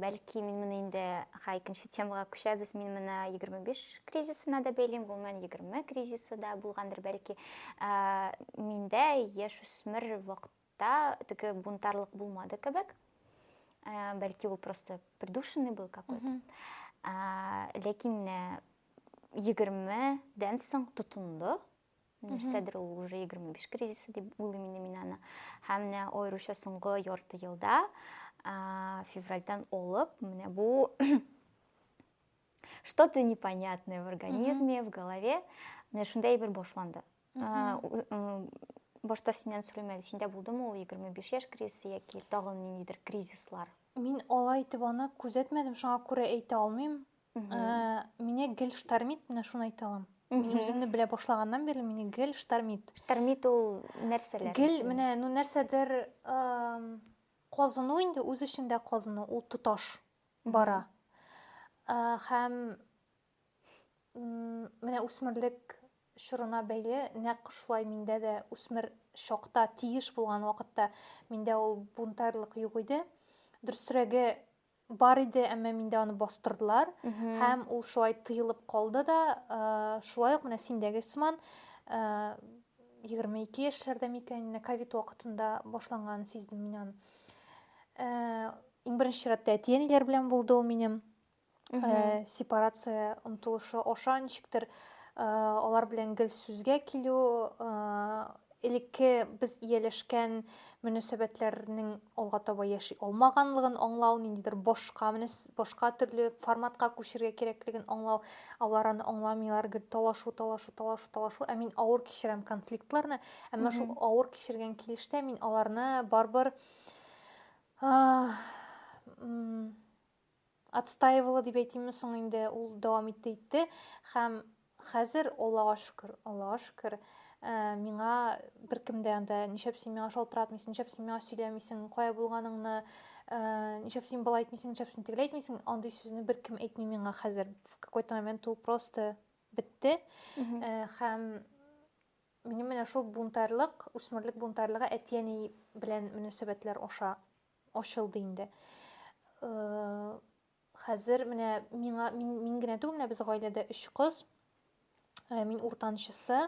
бәлки мин моны инде ха икенче темага күчәбез мин моны егерме биш кризисына да бәйлим гомумән егерме кризисы да булгандыр бәлки миндә яшүсмер вакытта теге бунтарлык булмады кебек бәлки ул просто придушенный был какой то ләкин егермедән соң тотынды нәрсәдер ул уже егерме биш кризисы дип уйлыйм инде мин аны һәм менә аеруча соңгы ярты елда февральдан алып менә бу что то непонятное в организме в голове менә шундай әйбер башланды башта синнән сорыйм әле синдә булдымы ул егерме биш яшь кризисы яки тагын ниндидер кризислар мин алай итеп аны күзәтмәдем шуңа күрә әйтә алмыйм Мине гел штормит, менә шуны әйтә алам. Мин үземне белә башлаганнан бирле мине гел штормит. Штормит ул нәрсәләр? Гел менә ну нәрсәдер казыну инде үз эчендә казыну, ул тоташ бара. Һәм менә үсмерлек чорына бәйле нәкъ шулай миндә дә үсмер чакта тиеш булган вакытта миндә ул бунтарьлык юк иде. Дөресрәге Бар иде, әмма миндә аны бастырдылар. Һәм ул шулай тыелып калды да, шулай ук менә синдәге сыман 22 яшьләрдә микән, менә ковид вакытында башланган сиздем мин аны. Иң беренче чиратта әти-әниләр белән булды ул минем. Сепарация омтылышы аша ничектер алар белән гел сүзгә килү, элекке без ияләшкән мөнәсәбәтләрнең алга таба яши алмаганлыгын аңлау, ниндидер башка башка төрле форматка күчергә кирәклеген аңлау, алар аны аңламыйлар, гел талашу, талашу, талашу, талашу. Ә мин авыр кичерәм конфликтларны, әмма шул авыр кичергән килештә мин аларны барбар отстаивала дип әйтимме соң инде, ул дәвам итте итте һәм хәзер, Аллага шөкер, Аллага шөкер, миңа беркем дә анда ничәп син миңа шалтыратмыйсың, ничәп син миңа сөйләмисең, кая булганыңны, ничәп син болай әйтмисең, ничәп син тегеләй әйтмисең, андый сүзне беркем әйтми миңа хәзер. В какой-то момент ул просто бетте. Һәм минем менә шул бунтарьлык, үсмерлек бунтарьлыгы әти-әни белән мөнәсәбәтләр аша ачылды инде. Хәзер менә миңа мин, мин генә түгел, менә без гаиләдә өч кыз. Мин уртанчысы.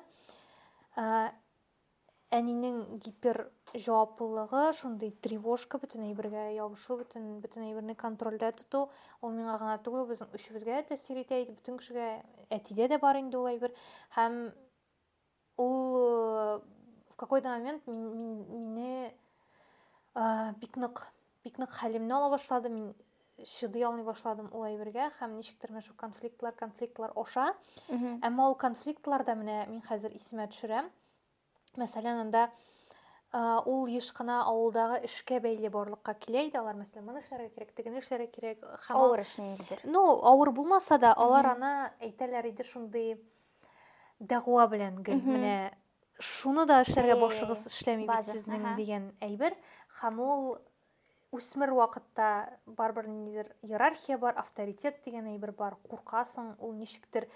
Әнинең гипер җаваплылыгы, шундый тревожка, бөтен әйбергә ябышу, бөтен бөтен әйберне контрольдә тоту, ул миңа гына түгел, безнең өчебезгә дә тәэсир итә иде, бөтен кешегә, әтидә дә бар инде ул әйбер. Һәм Ул в какой-то момент мине бик нык бик нык хәлемне ала башлады мин чыдый алмый башладым ул әйбергә һәм ничектер менә шул конфликтлар конфликтлар аша әмма ул конфликтларда менә мин хәзер исемә төшерәм мәсәлән анда ул еш кына авылдагы эшкә бәйле барлыкка килә иде алар мәсәлән моны эшләргә кирәк тегене эшләргә кирәк һәм авыр эш ниндидер ну авыр булмаса да алар аны әйтәләр иде шундый дәгъва белән гел менә шуны да эшләргә башыгыз эшләми бит сезнең дигән әйбер һәм ул үсмер вакытта барыбер ниндидер иерархия бар авторитет дигән әйбер бар куркасың ул ничектер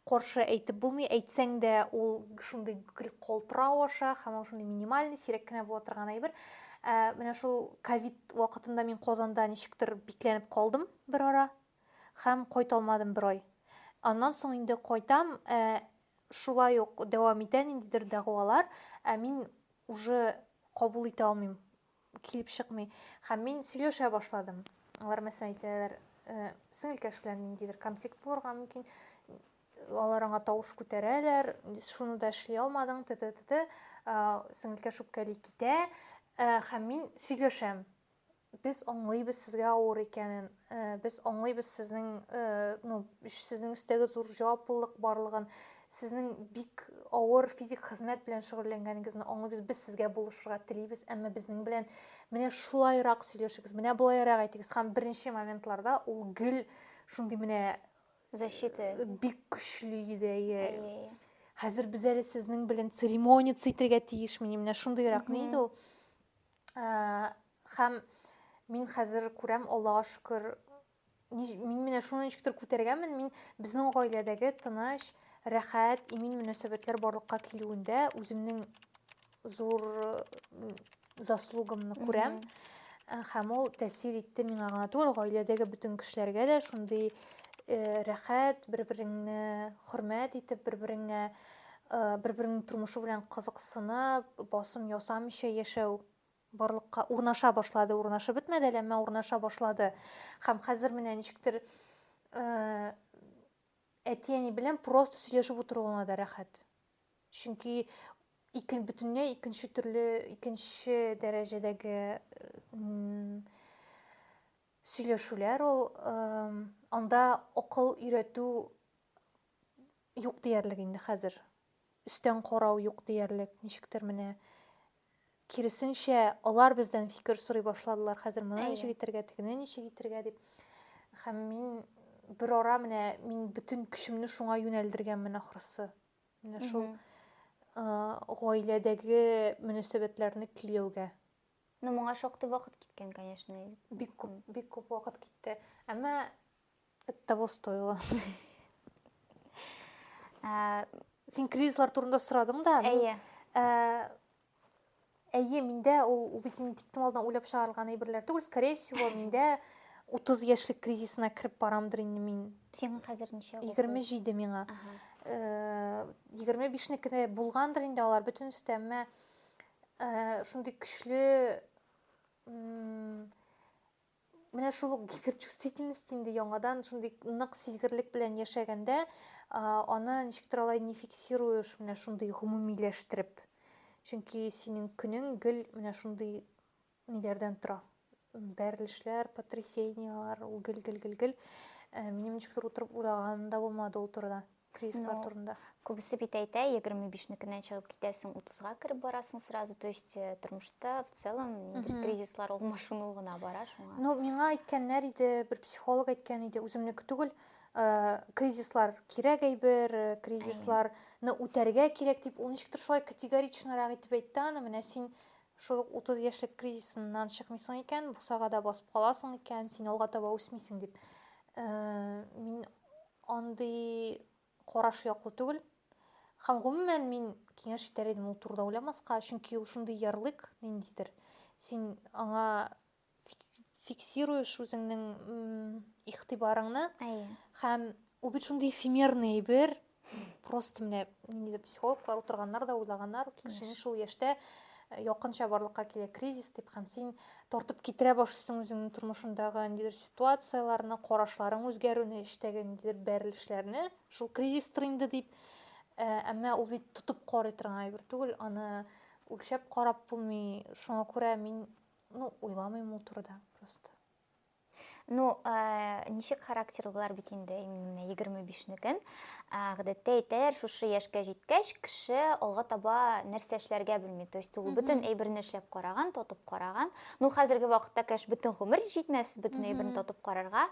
каршы әйтеп булмый әйтсәң дә ул шундый гел калтырау аша һәм ул шундый минимальный сирәк кенә була торган әйбер ә, менә шул ковид вакытында мин казанда ничектер бикләнеп калдым бер ара һәм кайталмадым бер ай. Аннан соң инде кайтам, ә шулай ук дәвам итә ниндидер дәгъвалар, ә мин уже кабул итә алмыйм, килеп чыкмый. Һәм мин сөйләшә башладым. Алар мәсәлән әйтәләр, э, сеңелкәш белән ниндидер конфликт булырга мөмкин, алар аңа тавыш күтәрәләр, шуны да эшли алмадың, т.т. Сеңелкәш үпкәли китә, э, һәм мин сөйләшәм. Без аңлыйбыз сезгә авыр икәнен, без аңлыйбыз сезнең, ну, сезнең өстәге зур җаваплылык барлыгын, сезнең бик авыр физик хезмәт белән шөгыльләнгәнегезне аңлыйбыз, без сезгә булышырга телибез, әмма безнең белән менә шулайрак сөйләшегез, менә болайрак әйтегез, һәм беренче моментларда ул гел шундый менә защита бик көчле иде, хәзер без әле сезнең белән церемониться итергә тиешмени, менә шундыйрак ни иде ул. Хәм мин хәзер күрәм, Аллага шөкер, мин менә шуны ничектер күтәргәнмен, мин безнең гаиләдәге тыныч, рәхәт, имин мөнәсәбәтләр барлыкка килүендә үземнең зур заслугымны күрәм. Хәм ул тәсир итте миңа гына түгел, гаиләдәге бөтен кешеләргә дә шундый рәхәт, бер-береңне хөрмәт итеп, бер-береңә бер-береңнең тормышы белән кызыксынып, басым ясамыйча яшәү барлыкка урнаша башлады, урнашып бетмәде әле, әмма урнаша башлады. Һәм хәзер менә ничектер э, әти-әни белән просто сөйләшеп утыруына да рәхәт. Чөнки икен бөтенләй икенче төрле, икенче дәрәҗәдәге сөйләшүләр ул, э, анда акыл өйрәтү юк диярлек инде хәзер. Өстән карау юк диярлек, ничектер менә. Киресенчә, алар бездән фикер сорый башладылар. Хәзер моны ничек итергә, тегене ничек итергә дип. Һәм мин бер ара менә мин бөтен көчемне шуңа юнәлдергәнмен ахрысы. Менә шул гаиләдәге мөнәсәбәтләрне көйләүгә. Ну, моңа шактый вакыт киткән, конечно. Бик күп, бик күп вакыт китте. Әмма Это того стоило. Ә, син кризислар турында сорадың да. Әйе. Ә, әйе, миндә ул, ул бит инде тиктем алдына уйлап чыгарылган әйберләр түгел. Скорее всего, миндә 30 яшьлек кризисына кереп барамдыр инде мин. Сиңа хәзер ничә? 27 миңа. Ага. 25-неке э, булгандыр инде алар бөтенесе дә, әмма э, шундый көчле менә шул ук гиперчувствительность инде яңадан шундый нык сизгерлек белән яшәгәндә аны ничектер алай не фиксируешь менә шундый гомумиләштереп чөнки синең көнең гел менә шундый ниләрдән тора бәрелешләр потрясениялар гел гел гел гел минем ничектер утырып уйлаганым да булмады ул турыда Кризислар турында. Күбесе бит әйтә, 25-некеннән чыгып китәсең, 30-га кереп барасың сразу. То есть э, тормышта в целом ниндидер кризислар ул машину гына бара шуңа. Ну, миңа әйткәннәр иде, бер психолог әйткән иде, үземнеке түгел. Э, кризислар кирәк әйбер, э, кризисларны үтәргә кирәк дип, ул ничектер шулай категоричнарак итеп әйтте аны. Менә син шул ук 30 яшьлек кризисыннан чыкмыйсың икән, бусагада басып каласың икән, син алга таба үсмисең дип. Э, мин Андый караш яклы түгел. Һәм гомумән мин киңәш итәр идем ул турыда уйламаска, чөнки ул шундый ярлык ниндидер. Син аңа фиксируешь үзеңнең игътибарыңны. Әйе. Һәм ул бит шундый эфемерный бер просто менә ниндидер психологлар утырганнар да уйлаганнар, кешенең шул яшьтә Э, якынча барлыкка килә кризис дип һәм син тартып китерә башлыйсың үзеңнең тормышыңдагы ниндидер ситуацияләрне карашларың үзгәрүне эштәге ниндидер бәрелешләрне шул кризистыр инде дип э, әмма ул бит тотып карый торган әйбер түгел аны үлчәп карап булмый шуңа күрә мин ну уйламыйм ул турыда просто Ну, э, ничек характерлылар бит инде, именно менә 25-некен. Э, Гадәттә әйтәләр, шушы яшькә җиткәч, кеше алга таба нәрсә эшләргә белми. То есть ул бөтен әйберне эшләп караган, тотып караган. Ну, хәзерге вакытта, конечно, бөтен гомер җитмәс бөтен әйберне тотып карарга.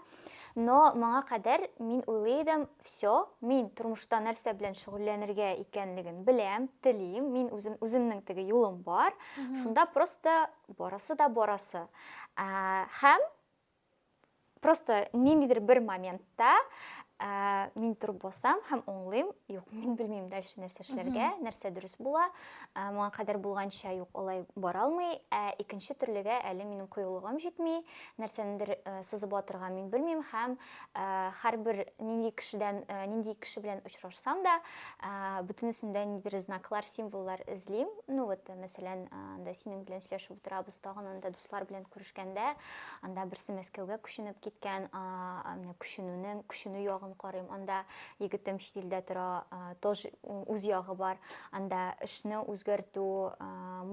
Но моңа кадәр мин уйлый идем, все, мин тормышта нәрсә белән шөгыльләнергә икәнлеген беләм, телим, мин үзем үземнең теге юлым бар. Шунда просто Барасы да барасы. Ә, һәм просто ниндидер бер моментта ә, мин торып басам һәм оңлыйм юк мин белмим дальше нәрсә эшләргә нәрсә дөрес була ә, моңа кадәр булганча юк алай бара алмый ә икенче төрлегә әле минем кыюлыгым җитми нәрсәнедер ә, сызып атырга мин белмим һәм һәрбер нинди кешедән нинди кеше белән очрашсам да бөтенесендә ниндидер знаклар символлар эзлим ну вот мәсәлән анда синең белән сөйләшеп утырабыз тагын анда дуслар белән күрешкәндә анда берсе мәскәүгә күченеп киткән менә күченүнең күченү ягын карыйм анда егетем чит илдә тора тоже үз ягы бар анда эшне үзгәртү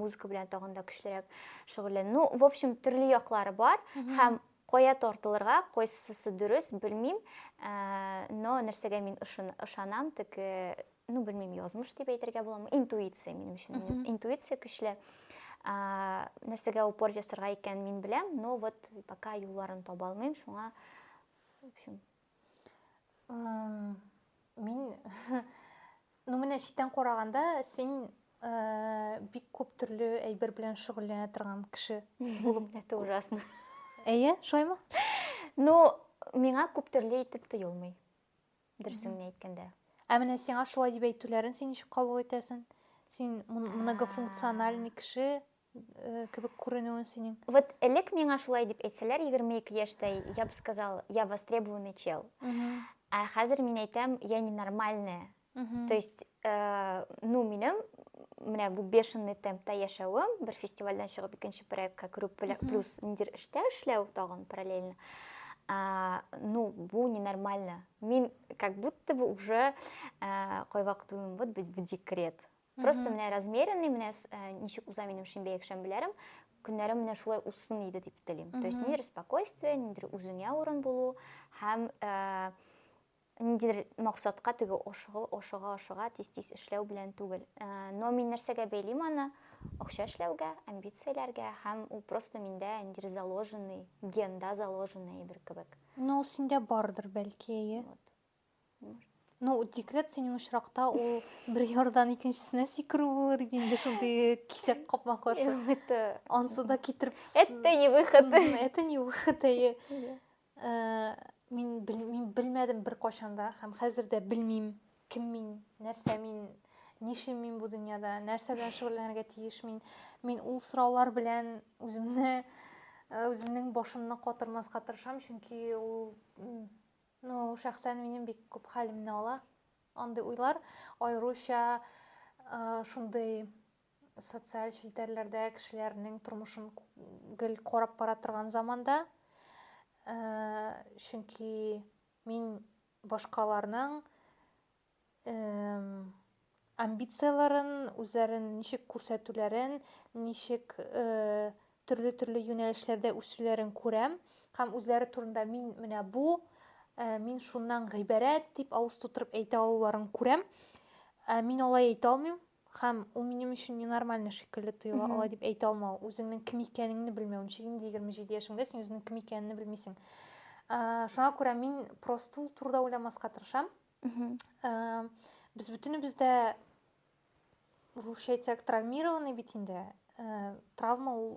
музыка белән тагын да көчлерәк шөгыльләнү ну в общем төрле яклары бар һәм Кая тартылырга, кайсысы дөрес, белмим, ә, но нәрсәгә мин ышын, ышанам, теге, ну, белмим, язмыш дип әйтергә буламы, интуиция минем өчен, минем интуиция көчле. Ә, нәрсәгә упор ясарга икән мин беләм, но вот пока юлларын таба алмыйм, шуңа, в общем, мин ну менә читтән караганда син э, бик күп төрле әйбер белән шөгыльләнә торган кеше булып это ужасно әйе шулаймы ну миңа күп төрле итеп тоелмый дөресен әйткәндә ә менә сиңа шулай дип әйтүләрен син ничек кабул итәсең син многофункциональный кеше Э, кебек күренүен синең вот элек миңа шулай дип әйтсәләр егерме ике яшьтә я бы сказал я востребованный чел ә хәзер мин әйтәм я ненормальная то есть э, ну минем менә бу бешеный темпта яшәвем бер фестивальдән чыгып икенче проектка керү плюс ниндидер эштә эшләү тагын параллельно а, ну, бу ненормально. Мин как будто бы уже а, кайвакыт уйлыйм, вот быть в декрет. Просто менә размеренный, менә э, ничек уза минем шимбә якшәмбеләрем, көннәрем менә шулай узсын иде дип телим. То есть ниндидер спокойствие, ниндидер үзеңә урын булу һәм э, ниндидер максатка теге ашыгы, ашыга, ашыга, тиз-тиз эшләү белән түгел. Э, но мин нәрсәгә бәйлим аны? Акча эшләүгә, амбицияләргә һәм ул просто миндә ниндидер заложенный, генда заложенный бер кебек. Но ул синдә бардыр бәлки, әйе. Вот. Ну, декрет синең очракта ул бер ярдан икенчесенә сикерү булыр иде инде шундый кисәк капма каршы. Это ансы да китереп. Это не выход. Это не выход. Э, мин мин белмәдем бер кашанда һәм хәзер дә белмим, кем мин, нәрсә мин, нишим мин бу дөньяда, нәрсә белән шөгыльләнергә тиеш мин. Мин ул сораулар белән үземне э, үземнең башымны катырмаска тырышам, чөнки ул Ну, шәхсән минем бик күп хәлемне ала андый уйлар, аеруча шундый социаль челтәрләрдә кешеләрнең тормышын гел карап бара торган заманда, чөнки мин башкаларның амбицияләрен, үзләрен ничек күрсәтүләрен, ничек төрле-төрле юнәлешләрдә үсүләрен күрәм һәм үзләре турында мин менә бу, мин шуннан гыйбарәт дип авыз тутырып әйтә алуларын күрәм. Мин алай әйтә алмыйм һәм ул минем өчен ненормально шикелле тоела, алай дип әйтә алмау, үзеңнең кем икәнеңне белмәү. Ничек инде 27 яшеңдә син үзеңнең кем икәнеңне белмисең. Шуңа күрә мин просто ул турыда уйламаска тырышам. без бөтенебез дә русча әйтсәк травмированный бит инде ә, травма ул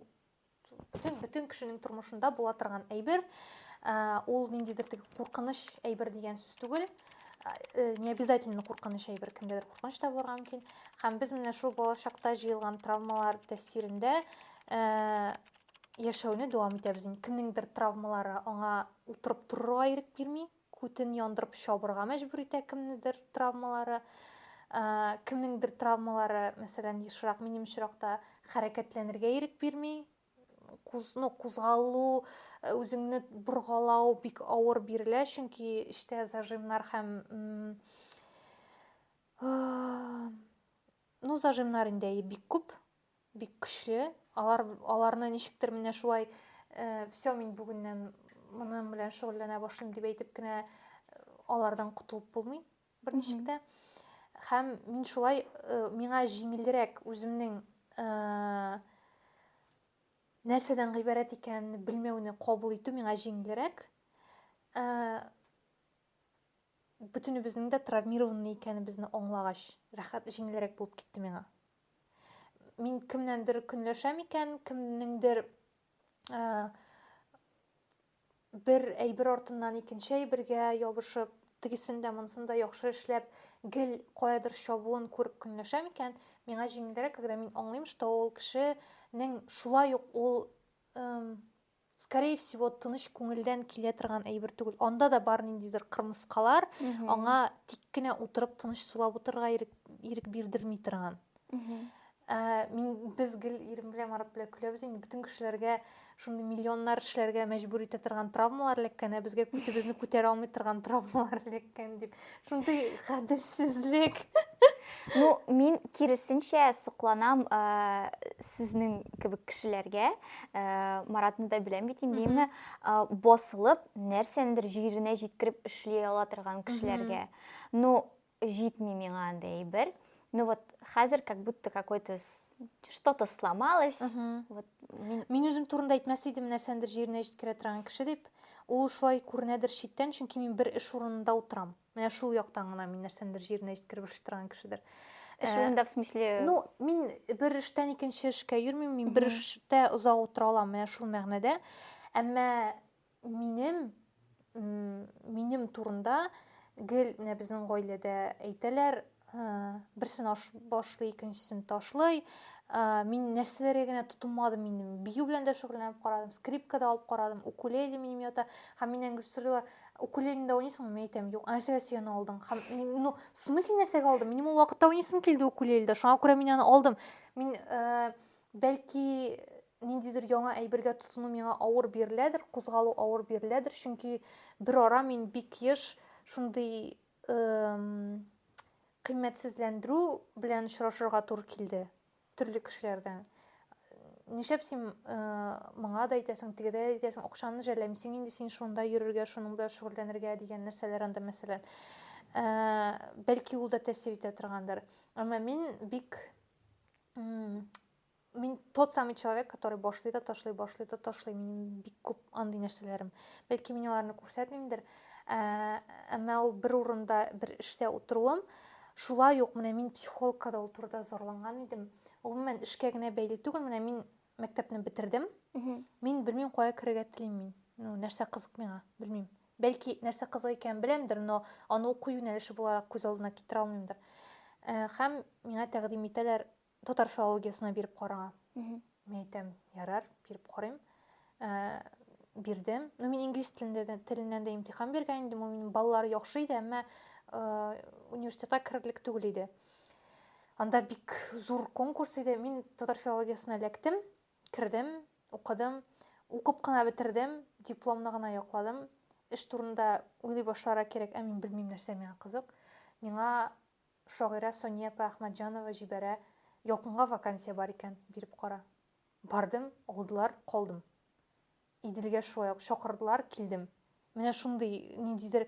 бөтен, бөтен кешенең тормышында була торган әйбер ә, ул ниндидер теге куркыныч әйбер дигән сүз түгел ә, не обязательно куркыныч әйбер кемдәдер куркыныч та булырга мөмкин һәм без менә шул балачакта җыелган травмалар тәэсирендә ә, яшәүне дәвам итәбез кемнеңдер травмалары аңа утырып торырга ирек бирми Күтен яндырып чабырга мәҗбүр итә кемнедер травмалары. Ә, кемнеңдер травмалары, мәсәлән, ешрак минем очракта хәрәкәтләнергә ирек бирми. Куз, ну, кузгалу, э, үзеңне боргалау бик авыр бирелә, чөнки эчтә зажимнар һәм ну, зажимнар инде бик күп. Бик көчле. Алар аларны ничектер менә шулай э, все мин бүгеннән моның белән шөгыльләнә башлыйм дип әйтеп кенә э, алардан котылып булмый берничек тә. Һәм мин шулай э, миңа җиңелрәк үземнең э, нәрсәдән гыйбарәт икәнен белмәүне кабул итү миңа җиңелрәк ә, бөтенебезнең дә травмированный икәнебезне аңлагач рәхәт җиңелрәк булып китте миңа Мин кемнәндер көнләшәм икән, кемнеңдер бер әйбер артыннан икенче әйбергә ябышып, тегесен дә монысын да яхшы эшләп, гел каядыр чабуын күреп көнләшәм икән, миңа җиңелрәк, когда мин аңлыйм, что ул кешенең шулай ук ул скорее всего тыныч күңелдән килә торган әйбер түгел анда да бар ниндидер кырмыскалар аңа тик кенә утырып тыныч сулап утырырга ирек, ирек бирдерми торган ә, мин без гел ирем белән марат белән көләбез инде бөтен кешеләргә шундый миллионнар эшләргә мәҗбүр итә торган травмалар эләккән ә безгә күтебезне күтәрә алмый торган травмалар эләккән дип Шундый гаделсезлек. Ну, мин киресенчә сокланам ә, сезнең кебек кешеләргә. Ә, Маратны да беләм бит инде, әйеме? Басылып, нәрсәнедер җиренә җиткереп эшли ала торган кешеләргә. Ну, җитми миңа андый әйбер. ну вот хәзер как будто какой то что то сломалось вот мин үзем турында әйтмәс идем нәрсәндер җиренә җиткерә торган кеше дип ул шулай күренәдер читтән чөнки мин бер эш урынында утырам менә шул яктан гына мин нәрсәндер җиренә җиткереп эшли торган кешедер эш э, урында в смысле ну мин бер эштән икенче эшкә йөрмим мин бер эштә озак утыра алам менә шул мәгънәдә әмма Минем, минем турында гел менә безнең гаиләдә әйтәләр, берсен аш башлый, икенчесен ташлый. Мин нәрсәләргә генә тотынмадым минем. Бию белән дә шөгыльләнеп карадым, скрипка да алып карадым, укулеле минем ята. Һәм миннән гел сорыйлар, укулелеңдә уйныйсыңмы? Мин әйтәм, юк. Ә нәрсәгә син аны алдың? Һәм ну, в смысле нәрсәгә алдым? Минем ул вакытта уйныйсым килде укулеледә. Шуңа күрә мин аны алдым. Мин Бәлки, ниндидер яңа әйбергә тотыну миңа авыр биреләдер, кузгалу авыр биреләдер, чөнки берара мин бик еш шундый кыйммәтсезләндерү белән очрашырга туры килде төрле кешеләрдән нишләп син э, моңа да әйтәсең тегедә дә әйтәсең акчаны жәлләмисең инде син шунда йөрергә шуның белән шөгыльләнергә дигән нәрсәләр анда мәсәлән э, бәлки ул да тәэсир итә торгандыр әмма мин бик мин тот самый человек который башлый да ташлый башлый да ташлый минем бик күп андый нәрсәләрем бәлки мин аларны күрсәтмимдер ә, әмма ул бер урында бер эштә утыруым шулай ук менә мин психологка да ул турыда зарланган идем гомумән эшкә генә бәйле түгел менә мин мәктәпне бетердем мин белмим кая керергә телим мин ну нәрсә кызык миңа белмим бәлки нәрсә кызык икәнен беләмдер но аны уку юнәлеше буларак күз алдына китерә алмыймдыр э, һәм миңа тәкъдим итәләр татар филологиясенә биреп карага мин әйтәм ярар биреп карыйм э, бирдем ну мин инглиз телендә теленнән дә имтихан биргән идем ул минем баллар яхшы иде әмма э, университетка керерлек түгел иде Анда бик зур конкурс иде. Мин татар филологиясенә эләктем, кердем, укыдым. Укып кына бетердем, дипломны гына якладым. Эш турында уйлый башларга кирәк, ә мин белмим нәрсә миңа кызык. Миңа шагыйрә Сония апа Әхмәтҗанова җибәрә, Ялкынга вакансия бар икән, биреп кара. Бардым, алдылар, калдым. Иделгә шулай ук чакырдылар, килдем. Менә шундый ниндидер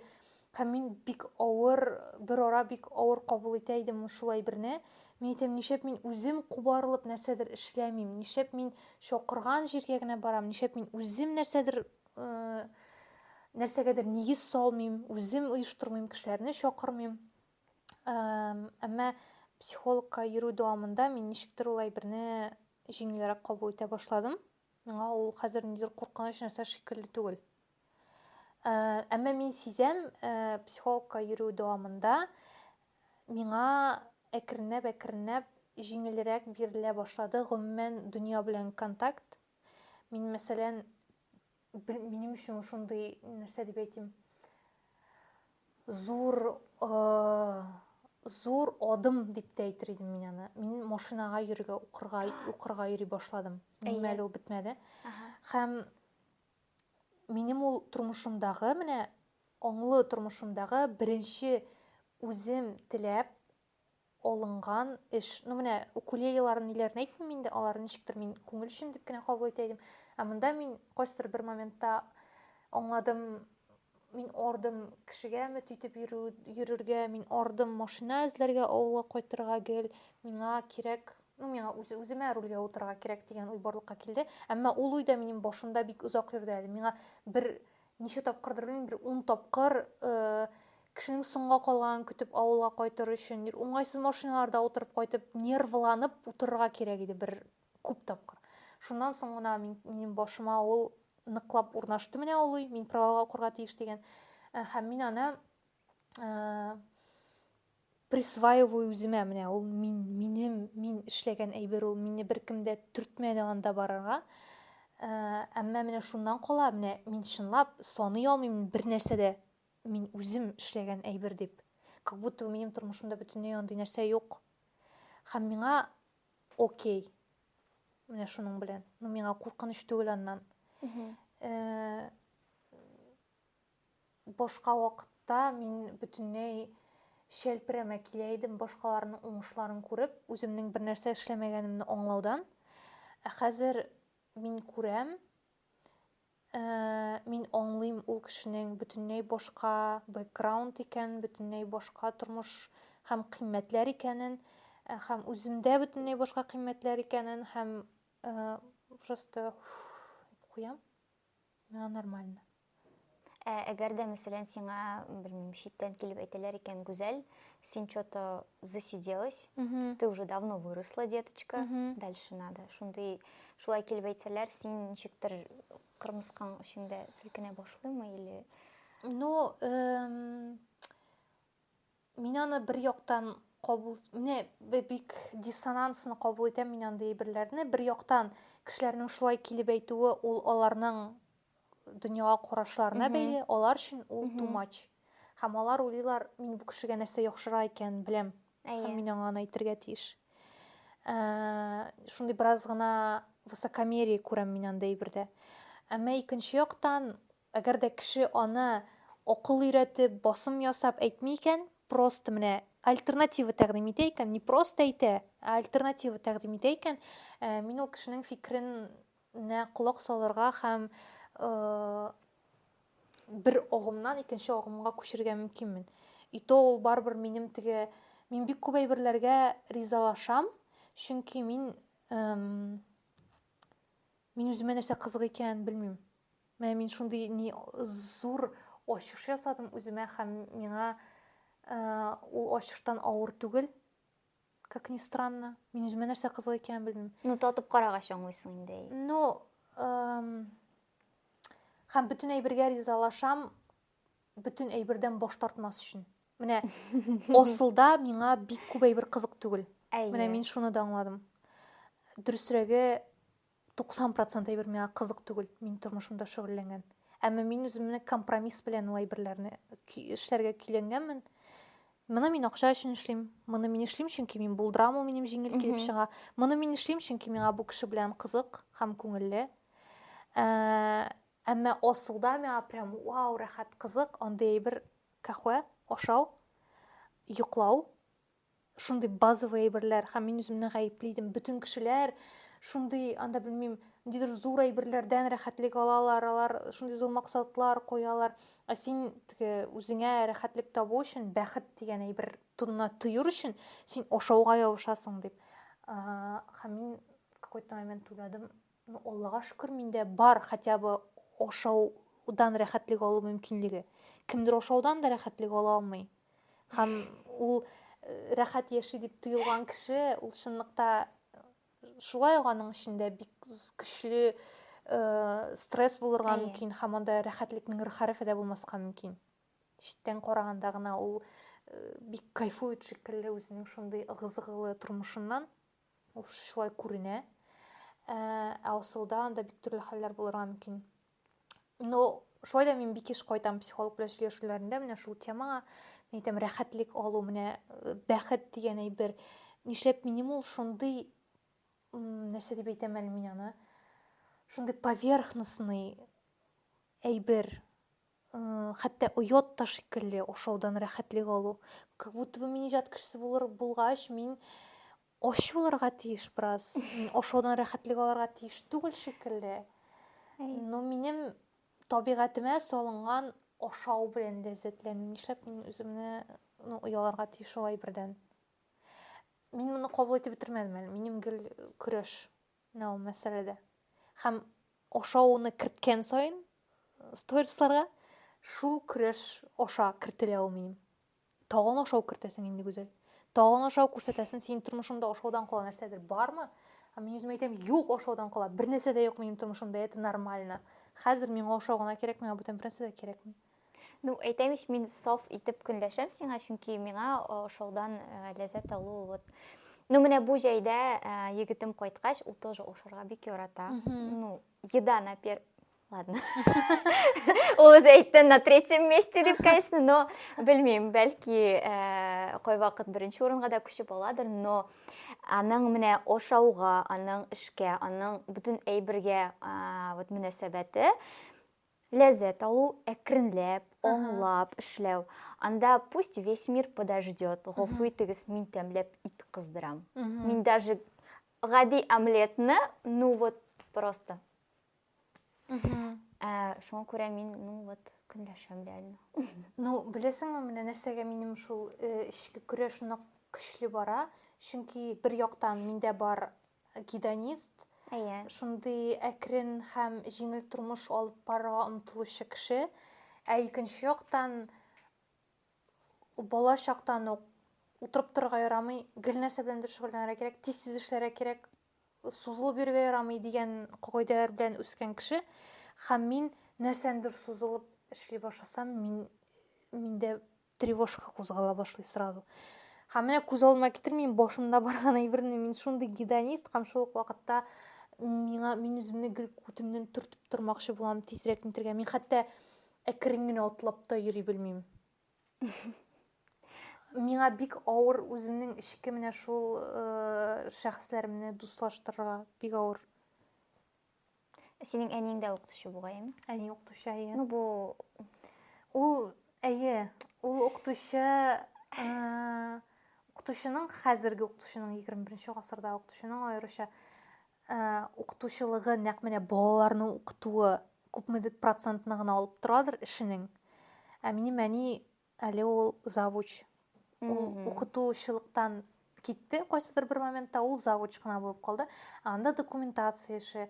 һәм мин бик авыр, берара бик авыр кабул итә идем шул әйберне. Мин әйтәм, нишләп мин үзем кубарылып нәрсәдер эшләмим, нишләп мин чакырган җиргә генә барам, нишләп мин үзем нәрсәдер нәрсәгәдер нигез салмыйм, үзем оештырмыйм, кешеләрне чакырмыйм. Әмма психологка йөрү дәвамында мин ничектер ул әйберне җиңелрәк кабул итә башладым. Миңа ул хәзер ниндидер куркыныч нәрсә шикелле түгел. Ә, әмма мин сизәм, ә, психологка йөрү дәвамында миңа әкренләп-әкренләп җиңелрәк бирелә башлады гомумән дөнья белән контакт. Мин, мәсәлән, минем өчен шундый нәрсә дип әйтим, Зур зур адым дип тә әйтер идем мин аны. Мин машинага йөрергә, укырга, укырга йөри башладым. Минем әле ул бетмәде. Һәм минем ул тормышымдагы, менә аңлы тормышымдагы беренче үзем теләп, алынган эш. Ну менә укулелеларын ниләрен әйтмим инде, алар ничектер мин күңел өчен дип кенә кабул итә идем. Ә монда мин кайсыдыр бер моментта аңладым, мин ардым кешегә өмет итеп йөрү, йөрергә, мин ардым машина эзләргә, авылга кайтырга гел, миңа кирәк, ну миңа үз, үземә рульгә утырырга кирәк дигән уй барлыкка килде. Әмма ул уй да минем башымда бик озак йөрде әле. Миңа бер Ничә тапкырдыр белмим, бер ун тапкыр кешенең соңга калганын көтеп авылга кайтыр өчен уңайсыз машиналарда утырып кайтып нервланып утырырга кирәк иде бер күп тапкыр шуннан соң гына минем башыма ул ныклап урнашты менә ул уй мин правага укырга тиеш дигән һәм мин аны присваиваю үземә менә ул мин минем мин эшләгән әйбер ул мине беркем дә төртмәде анда барырга ә, әмма менә шуннан кала менә мин чынлап саный алмыйм бер нәрсә дә мин үзем эшләгән әйбер дип как будто минем тормышымда бөтенләй андый нәрсә юк һәм миңа окей менә шуның белән ну миңа куркыныч түгел аннан э, Башка вакытта мин бөтенләй чәлперәмә килә идем, башкаларның уңышларын күреп, үземнең бернәрсә эшләмәгәнемне аңлаудан. Ә хәзер мин күрәм, э, мин аңлыйм ул кешенең бөтенләй башка бэкграунд икәнен, бөтенләй башка тормыш һәм кыйммәтләр икәнен, э, һәм үземдә бөтенләй башка кыйммәтләр икәнен һәм, э, просто, уф, дип куям. Миңа нормально. Ә әгәр дә, мәсәлән, сиңа, белмим, читтән килеп әйтәләр икән, Гүзәл, син что-то засиделась, ты уже давно выросла, деточка, дальше надо. Шундый, шулай килеп әйтсәләр, син ничектер кырмыскаң эчеңдә селкенә башлыймы или Ну, эм, Мин аны бер яктан кабул, менә бик диссонансно кабул итәм мин андый әйберләрне. Бер яктан кешеләрнең шулай килеп әйтүе, ул аларның дөньяга карашларына бәйле, алар өчен ул too much. Һәм алар уйлыйлар, мин бу кешегә нәрсә яхшыра икән, беләм. Һәм мин аңа аны әйтергә тиеш. Ә, шундый бераз гына высокомерие күрәм мин анда әйбердә. Әмма икенче яктан, Әгәр дә кеше аны акыл өйрәтеп, басым ясап әйтми икән, просто менә альтернатива тәкъдим итә икән, не просто әйтә, ә альтернатива тәкъдим итә икән, мин ул кешенең фикеренә колак салырга һәм бер агымнан икенче агымга күчергә мөмкинмен. И то ул барыбер минем теге мин бик күп әйберләргә ризалашам, чөнки мин мин үземә нәрсә кызык икәнен белмим. Менә мин шундый ни зур ачыш ясадым үземә һәм миңа э, ул ачыштан авыр түгел. Как ни странно. Мин үземә нәрсә кызык икәнен белмим. Ну, татып карагач аңлыйсың инде. Ну, эм, һәм бөтен әйбергә ризалашам, бөтен әйбердән баш тартмас өчен. Менә асылда миңа бик күп әйбер кызык түгел. Әйе. Менә мин шуны да аңладым. Дөресрәге, 90 процент әйбер миңа кызык түгел, мин тормышымда шөгыльләнгән. Әмма мин үземне компромисс белән ул әйберләрне эшләргә көйләнгәнмен. Моны мин акча өчен эшлим. Моны мин эшлим, чөнки мин булдырам, ул минем җиңел килеп чыга. Моны мин эшлим, чөнки миңа бу кеше белән кызык һәм күңелле. Ә, әмма асылда миңа прям вау, рәхәт, кызык, андый әйбер кахвә, ашау, йоклау, шундый базовый әйберләр һәм мин үземне гаепли идем бөтен кешеләр шундый анда белмим ниндидер зур әйберләрдән рәхәтлек алалар алар шундый зур максатлар куялар ә син теге үзеңә рәхәтлек табу өчен бәхет дигән әйбер тонына төер өчен син ашауга ябышасың дип һәм мин какой то момент уйладым Ну, Аллага шөкер, миндә бар хотя бы ашаудан рәхәтлек алу мөмкинлеге. Кемдер ашаудан да рәхәтлек ала алмый. Һәм ул э, рәхәт яши дип тоелган кеше, ул чынлыкта э, шулай ук аның эчендә бик көчле э, стресс булырга мөмкин һәм анда рәхәтлекнең рхәрефе дә булмаска мөмкин. Читтән караганда гына ул бик кайфует шикелле үзенең шундый ыгы-зыгылы тормышыннан. Ул шулай күренә. Ә, ә асылда анда бик төрле хәлләр булырга мөмкин. Но шулай да мин бик еш кайтам психолог белән сөйләшүләрендә менә шул темага. Мин әйтәм, рәхәтлек алу, менә э, бәхет дигән әйбер. Нишләп минем ул шундый, нәрсә дип әйтәм әле мин аны, шундый поверхностный әйбер, Хәтта оят та шикелле ашаудан рәхәтлек алу. Как будто бы мин иҗат кешесе булыр булгач, мин ач булырга тиеш бераз. Мин ашаудан рәхәтлек алырга тиеш түгел шикелле. Но минем табигатемә салынган ашау белән ләззәтләнү. Нишләп мин үземне ну, ояларга тиеш шулай бердән? Мин моны кабул итеп бетермәдем әле. Минем гел көрәш. Менә ул мәсьәлә дә. Һәм ашауны керткән саен сторисларга шул көрәш аша кертелә ул минем. Тагын ашау кертәсең инде гүзәл. Тагын ашау күрсәтәсен, синең тормышыңда ашаудан кала нәрсәдер бармы? Ә мин үзем әйтәм, юк ашаудан кала, бер нәрсә дә юк минем тормышымда, это нормально. Хәзер миңа ашау гына кирәк, миңа бүтән бернәрсә дә кирәкми. Ну, әйтәм ич, мин саф итеп көнләшәм сиңа, чөнки миңа ошаудан ләззәт алу вот Ну, менә бу җәйдә егетем кайткач, ул тоже ошарга бик ярата. Ну, еда на пер... Ладно. Ул үзе әйтте на третьем месте дип, конечно, но белмим, бәлки кай вакыт беренче урынга да күчеп аладыр, но аның менә ошауга, аның эшкә, аның бөтен әйбергә вот мөнәсәбәте Ләззәт алу, әкренләп, аңлап эшләү. Анда пусть весь мир подождет, гафу итегез, мин тәмләп ит кыздырам. Мин даже гади омлетны, ну вот просто. Ә, шуңа күрә мин, ну вот, көнләшәм реально. Ну, беләсеңме, менә нәрсәгә минем шул э, эчке көрәш нык көчле бара, чөнки бер яктан миндә бар Гедонист, Әйе. шундый әкрен һәм җиңел тормыш алып барырга омтылучы кеше. Ә икенче яктан, бала чактан ук утырып торырга ярамый, гел нәрсә белән дә шөгыльләнергә кирәк, тиз-тиз эшләргә кирәк, сузылып йөрергә ярамый дигән кагыйдәләр белән үскән кеше. Һәм мин нәрсәнедер сузылып эшли башласам, мин миндә тревожка кузгала башлый сразу һәм менә күз алдыма китермим башымда барган әйберне мин шундый гедонист һәм шул ук вакытта миңа мин үземне гел күтемнән төртеп тормакчы булам тизрәк нитергә мин хәтта әкрен генә атлап та йөри белмим миңа бик авыр үземнең эчке менә шул э, шәхесләремне дуслаштырырга бик авыр Синең әниең дә укытучы бугайым. Әни укытучы, әйе. Ну бу ул әйе, ул укытучы укытучының хәзерге укытучының 21 гасырда укытучының аеруча укытучылыгы нәкъ менә балаларны укытуы күпмедер процентны гына алып торадыр эшенең. Ә минем әни Әле ул завуч. Ул укытучылыктан китте, кайсыдыр бер моментта ул завуч кына булып калды. Анда документация эше,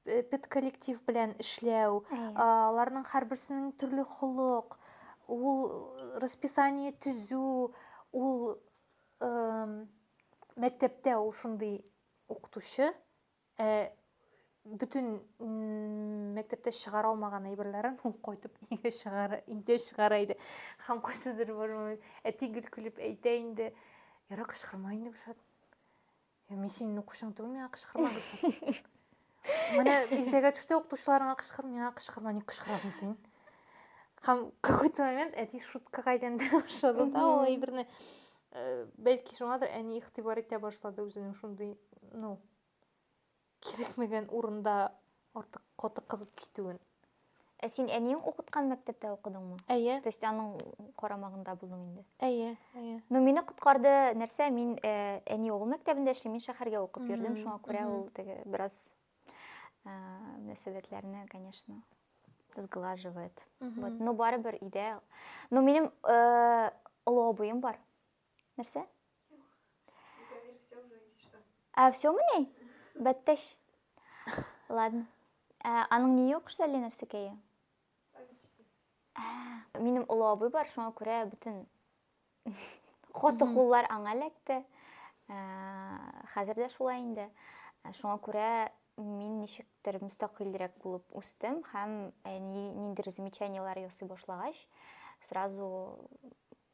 педколлектив белән эшләү, аларның һәрберсенең төрле холык, ул расписание төзү, ул мәктәптә ул шундый укытучы, Ә бөтен мәктәптә чыгара алмаган әйберләрен ул кайтып өйгә чыгара, өйдә чыгара иде. Һәм кайсыдыр бер момент әти гел көлеп әйтә инде, Яра кычкырма инде Гөлшат. Я мин синең укучың түгел, миңа кычкырма Гөлшат. Менә иртәгә төштә укытучыларыңа кычкыр, миңа кычкырма, ник кычкырасың син? Һәм какой-то момент әти шутка кайдан башлады да, ул әйберне Э, бәлки шуңадыр әни игътибар итә башлады үзенең шундый ну кирәкмәгән урында артык каты кызып китүен ә син әниең укыткан мәктәптә укыдыңмы әйе то есть аның карамагында булдың инде әйе әйе ну мине коткарды нәрсә мин э, әни угыл мәктәбендә эшли мин шәһәргә укып йөрдем шуңа күрә ул теге бераз ә, мөнәсәбәтләрне конечно сглаживает вот но барыбер өйдә но минем ә, олы абыем бар нәрсә а все мени бәттәш ладно ә, аның ни юк шәле нәрсәкәе ә, минем олы абый бар шуңа күрә бөтен Каты куллар аңа эләкте. Ә, Хәзер дә шулай инде. Ә, Шуңа күрә мин ничектер мөстәкыйльрәк булып үстем һәм ә, ни- ниндидер замечаниеләр ясый башлагач, сразу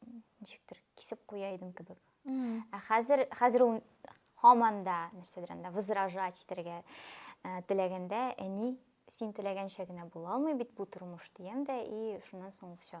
м, ничектер кисеп куя идем кебек. Ә хәзер хәзер ул һаман да нәрсәдер анда возражать итәргә ә, теләгәндә, әни, син теләгәнчә генә була алмый бит бу тормыш, диям дә и шуннан соң все.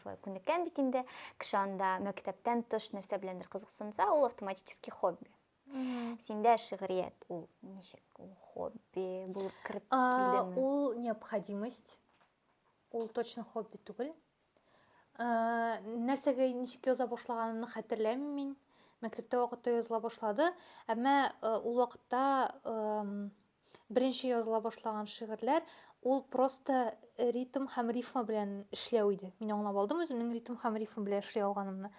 шулай күнеккән бит инде кеше анда мәктәптән тыш нәрсә беләндер кызыксынса ул автоматически хобби синдә шигърият ул ничек ул хобби булып кереп килдеме ул необходимость ул точно хобби түгел нәрсәгә ничек яза башлаганымны хәтерләмим мин мәктәптә вакытта языла башлады әмма ул вакытта беренче языла башлаган шигырьләр, ул просто ритм һәм рифма белән эшләү иде. Мин аңлап алдым үземнең ритм һәм рифм белән эшли алганымны.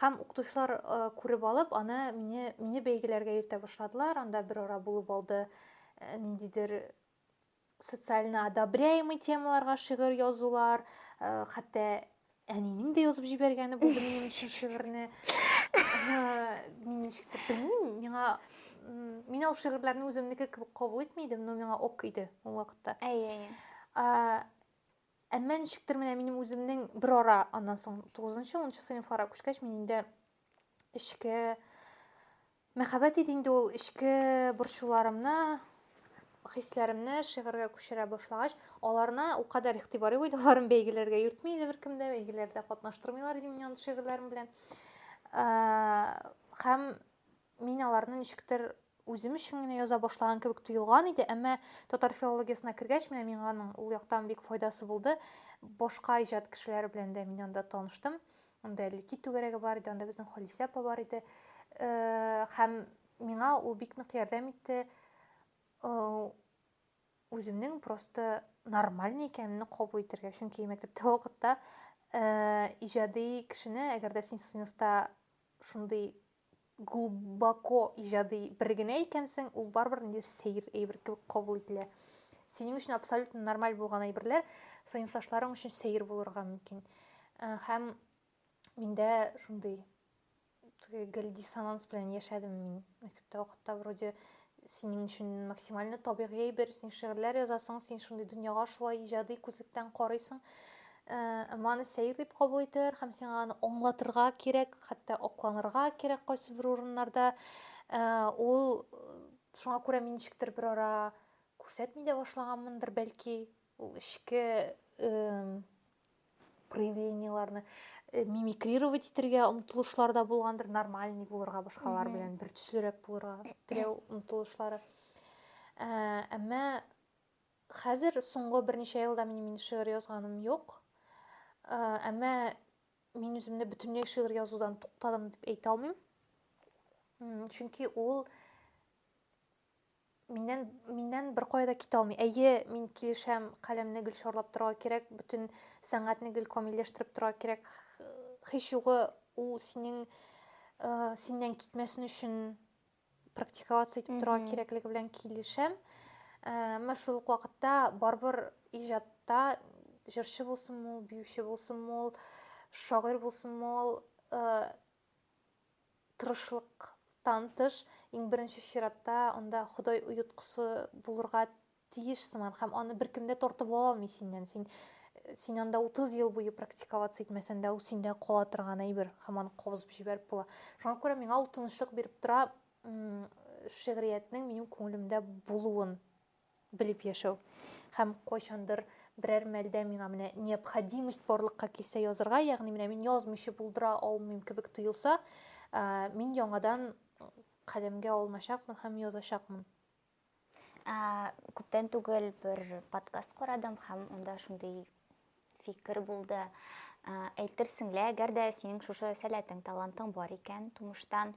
Һәм укытучылар э, күреп алып, аны мине, мине бәйгеләргә йөртә башладылар, анда бер ара булып алды э, ниндидер социально одобряемый темаларга шигырь язулар, э, хәтта әнинең дә язып җибәргәне бу минем өчен шигырьне мин ничектер белмим миңа мин ул шигырьләрне үземнеке кебек кабул итми идем но миңа ок иде ул вакытта әйе әйе әмма ничектер менә минем үземнең бер ара аннан соң тугызынчы унынчы сыйныфларга күчкәч мин инде эчке мәхәббәт иде инде ул эчке борчуларымны хисләремне шигырьгә күчерә башлагач аларына ул кадәр игътибар юк иде аларын бәйгеләргә йөртми иде беркем дә бәйгеләрдә катнаштырмыйлар иде мине андый шигырьләрем белән һәм мин аларны ничектер үзем өчен генә яза башлаган кебек тоелган иде әмма татар филологиясенә кергәч менә миңа аның ул яктан бик файдасы булды башка иҗат кешеләре белән дә мин анда таныштым Анда Әллүки түгәрәге бар иде, анда безнең Халисә апа бар иде. Һәм миңа ул бик нык ярдәм итте. Үземнең просто нормальный икәнемне кабул итәргә. Чөнки мәктәптә вакытта иҗади кешене, әгәр дә син сыйныфта шундый глубоко иҗади бер генә икәнсең, ул барыбер инде сәер әйбер кебек кабул ителә. Синең өчен абсолютно нормаль булган әйберләр сыйныфташларың өчен сәер булырга мөмкин. Э, һәм миндә шундый гел диссонанс белән яшәдем мин мәктәптә вакытта вроде синең өчен максимально табигый әйбер син шигырьләр язасың син шундый дөньяга шулай иҗади күзлектән карыйсың әмма аны сәер дип кабул итәләр һәм сиңа аны аңлатырга кирәк хәтта акланырга кирәк кайсы бер урыннарда ул шуңа күрә мин ничектер бер ара күрсәтми дә башлаганмындыр бәлки ул эчке проявлениеларны э, мимикрировать итәргә омтылышлар да булгандыр нормальный булырга башкалар белән бер төслерәк булырга теләү омтылышлары ә, әмма хәзер соңгы берничә елда мин мин шигырь язганым юк ә, әмма мин үземне бөтенләй шигырь язудан туктадым дип әйтә алмыйм чөнки ул Миннән, миннән бер кая да китә алмый. Әйе, мин килешәм, каләмне гел шарлап торырга кирәк, бөтен сәнгатьне гел камилләштереп торырга кирәк. Һич югы ул синең э, синнән китмәсен өчен практиковаться итеп торырга кирәклеге белән килешәм. Э, Әмма шул ук вакытта барыбер иҗатта җырчы булсынмы ул, биюче булсынмы ул, шагыйрь булсынмы ул, э, тырышлыктан тыш, иң беренче чиратта анда Ходай оеткысы булырга тиеш сыман, һәм аны беркем дә тартып ала алмый синнән. Син син анда 30 ел буе практиковаться итмәсәң дә, ул синдә кала торган әйбер, һәм аны кабызып җибәреп була. Шуңа күрә миңа ул тынычлык биреп тора, шигъриятнең минем күңелемдә булуын Белеп яшәү. Һәм кайчандыр берәр мәлдә миңа менә необходимость барлыкка килсә язырга, ягъни менә мин язмыйча булдыра алмыйм кебек тоелса, мин яңадан каләмгә алыначакмын һәм язачакмын. Күптән түгел бер подкаст карадым һәм анда шундый фикер булды. Әйтерсең лә, әгәр дә синең шушы сәләтең, талантың бар икән тумыштан,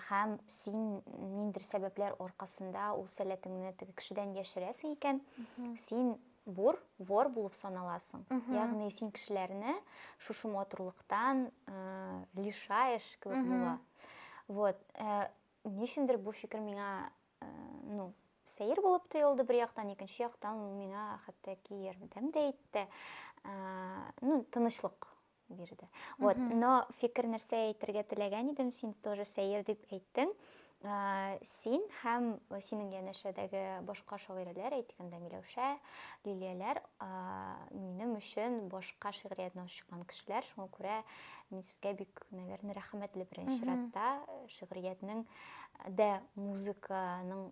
һәм син ниндер сәбәпләр аркасында ул сәләтеңне теге кешедән яшерәсең икән, син бур, вор булып саналасың. Ягъни син кешеләрне шушы матурлыктан лишаешь кебек була. Вот. Ничендер бу фикер миңа ну, сәер булып тоелды бер яктан, икенче яктан ул миңа хәтта ки ярдәм дә итте. Ну, тынычлык бирде. Вот, но фикер нәрсә әйтергә теләгән идем, син тоже сәер дип әйттең. Син һәм синең янәшәдәге башка шагыйрәләр, әйтгәндә Миләүшә, Лилияләр, минем өчен башка шигъриятне ачкан кешеләр, шуңа күрә мин сезгә бик, наверное, рәхмәтле беренче чиратта шигъриятнең дә музыканың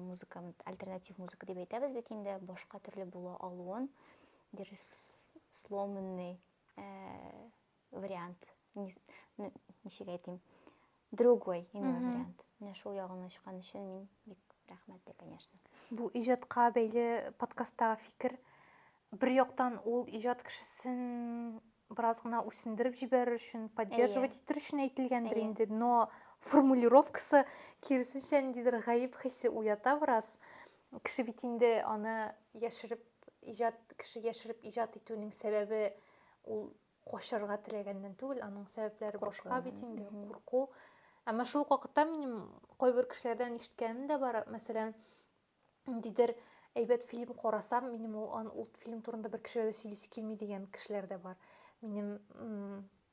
музыка альтернатив музыка дип әйтәбез бит инде башка төрле була алуын there is сломанный вариант ничек әйтим другой ине вариант менә шул ягын ачкан өчен мин бик рәхмәтле конечно бу иҗатка бәйле подкасттагы фикер Бер яктан ул иҗат кешесен бераз гына үсендереп җибәрер өчен, поддерживать итер өчен әйтелгәндер инде, но формулировкасы киресенчә ниндидер гаеп хисе уята бераз. Кеше бит инде аны яшереп иҗат кеше яшереп иҗат итүнең сәбәбе ул качарга теләгәннән түгел, аның сәбәпләре башка бит инде, курку. Әмма шул вакытта минем кайбер кешеләрдән ишеткәнем дә бар, мәсәлән, ниндидер әйбәт фильм карасам, минем ул, ул фильм турында бер кешегә дә сөйлисе килми дигән кешеләр дә бар. Минем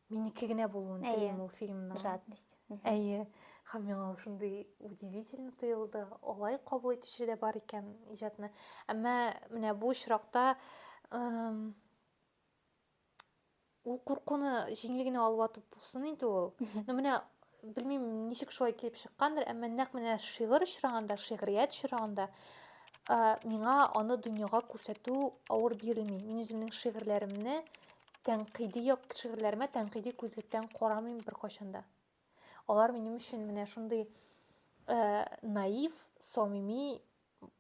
минеке генә булуын телим ул фильмның. Жадность. Әйе. Һәм миңа шундый удивительно тоелды. Алай кабул итүче дә бар икән иҗатны. Әмма менә бу очракта ул куркуны җиңелгенә алып атып булсын инде ул но менә белмим ничек шулай килеп чыккандыр әмма нәкъ менә шигырь очрагында шигърият очрагында миңа аны дөньяга күрсәтү авыр бирелми мин үземнең шигырьләремне тәнкыйди як шигырьләремә тәнкыйди күзлектән карамыйм беркайчан да алар минем өчен менә шундый наив самими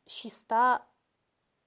чиста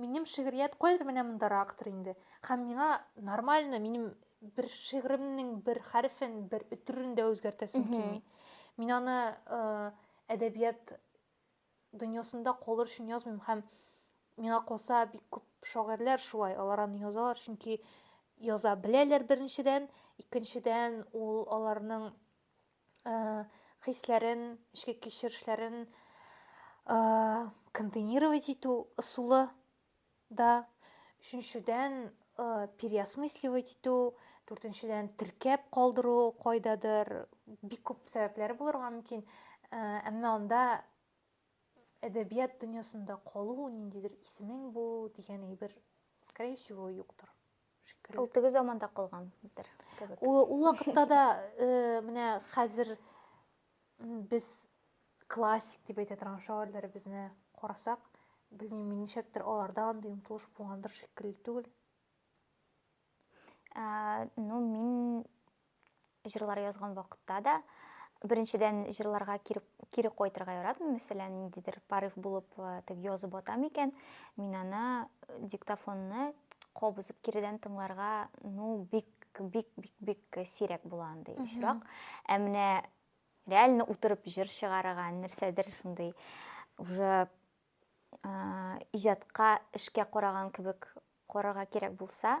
Минем шигърият кайдыр менә мондарактыр инде. Һәм миңа нормально минем бер шигъремнең бер хәрефен, бер өтерен дә үзгәртәсем килми. Мин аны әдәбият дөньясында калыр өчен язмыйм һәм миңа калса бик күп шагыйрьләр шулай, алар аны язалар, чөнки яза беләләр беренчедән, икенчедән ул аларның хисләрен, эчке кичерешләрен контейнировать итү ысулы да, өченчедән переосмысливать итү, дүртенчедән теркәп калдыру кайдадыр, бик күп сәбәпләре булырга мөмкин, әмма анда әдәбият дөньясында калу, ниндидер исемең булу дигән әйбер, скорее всего, юктыр. шикелле. Ул теге заманда калган бер кебек. Ул вакытта да э, менә хәзер без классик дип әйтә торган шагыйрьләребезне карасак, белмим, мин ничектер аларда андый омтылыш булган бер шикелле түгел. Ә, ну, мин Җырлар язган вакытта да, беренчедән, җырларга кире, кире кайтырга яратмыйм. Мәсәлән, ниндидер порыв булып, э, тег язып атам икән, мин аны э, диктофонны кабызып киредән тыңларга, ну, бик бик бик бик сирәк була андый очрак. Ә менә реально утырып җыр чыгарырга, нәрсәдер шундый уже э, иҗатка, эшкә караган кебек карарга кирәк булса,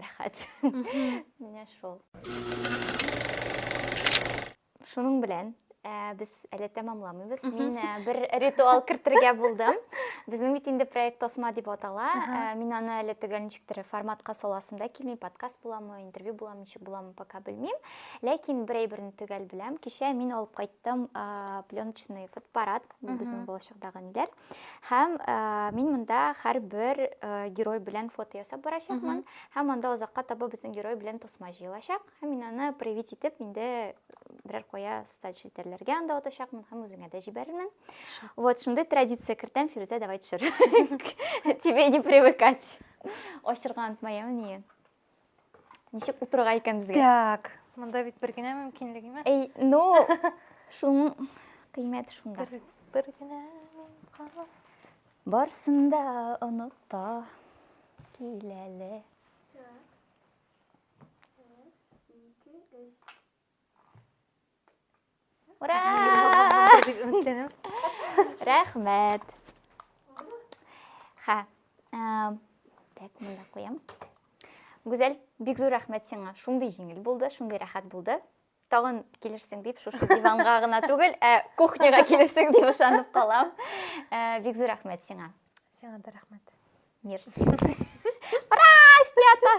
рәхәт менә шул шуның белән ә, без әле тәмамламыйбыз мин ә, бер ритуал кертергә булдым безнең бит инде проект тосма дип атала ә, мин аны әле төгәл ничек тере форматка саласым да килми подкаст буламы интервью буламы ничек буламы пока белмим ләкин бер әйберне төгәл беләм кичә мин алып кайттым ә, пленочный фотоаппарат безнең балачакдагы ниләр Һәм ә, мин монда һәрбер герой белән фото ясап барачакмын. Һәм анда озакка таба безнең герой белән тосма җыелачак. Һәм мин аны привит итеп инде берәр кая социаль челтәрләргә анда атачакмын һәм үзеңә дә җибәрермен. Вот шундый традиция кертәм, Фирүзә, давай төшер. Тебе не привыкать. Ачырга онытмаем, ни. Ничек утырырга икән безгә? Так. Монда бит бер генә мөмкинлек имә. Әй, ну, шуның кыйммәте шунда. Бер, бер генә кала. Барсын да оныта киләле. Ура! Рәхмәт. Ха. Так, монда куям. Гүзәл, бик зур рәхмәт сиңа. Шундый җиңел булды, шундый рәхәт булды. Тагын килерсең дип, шушы диванга гына түгел, ә кухняга килерсең дип ышанып калам. Э, бик зур рәхмәт сиңа. Сиңа да рәхмәт. Мерси. Ура, снято!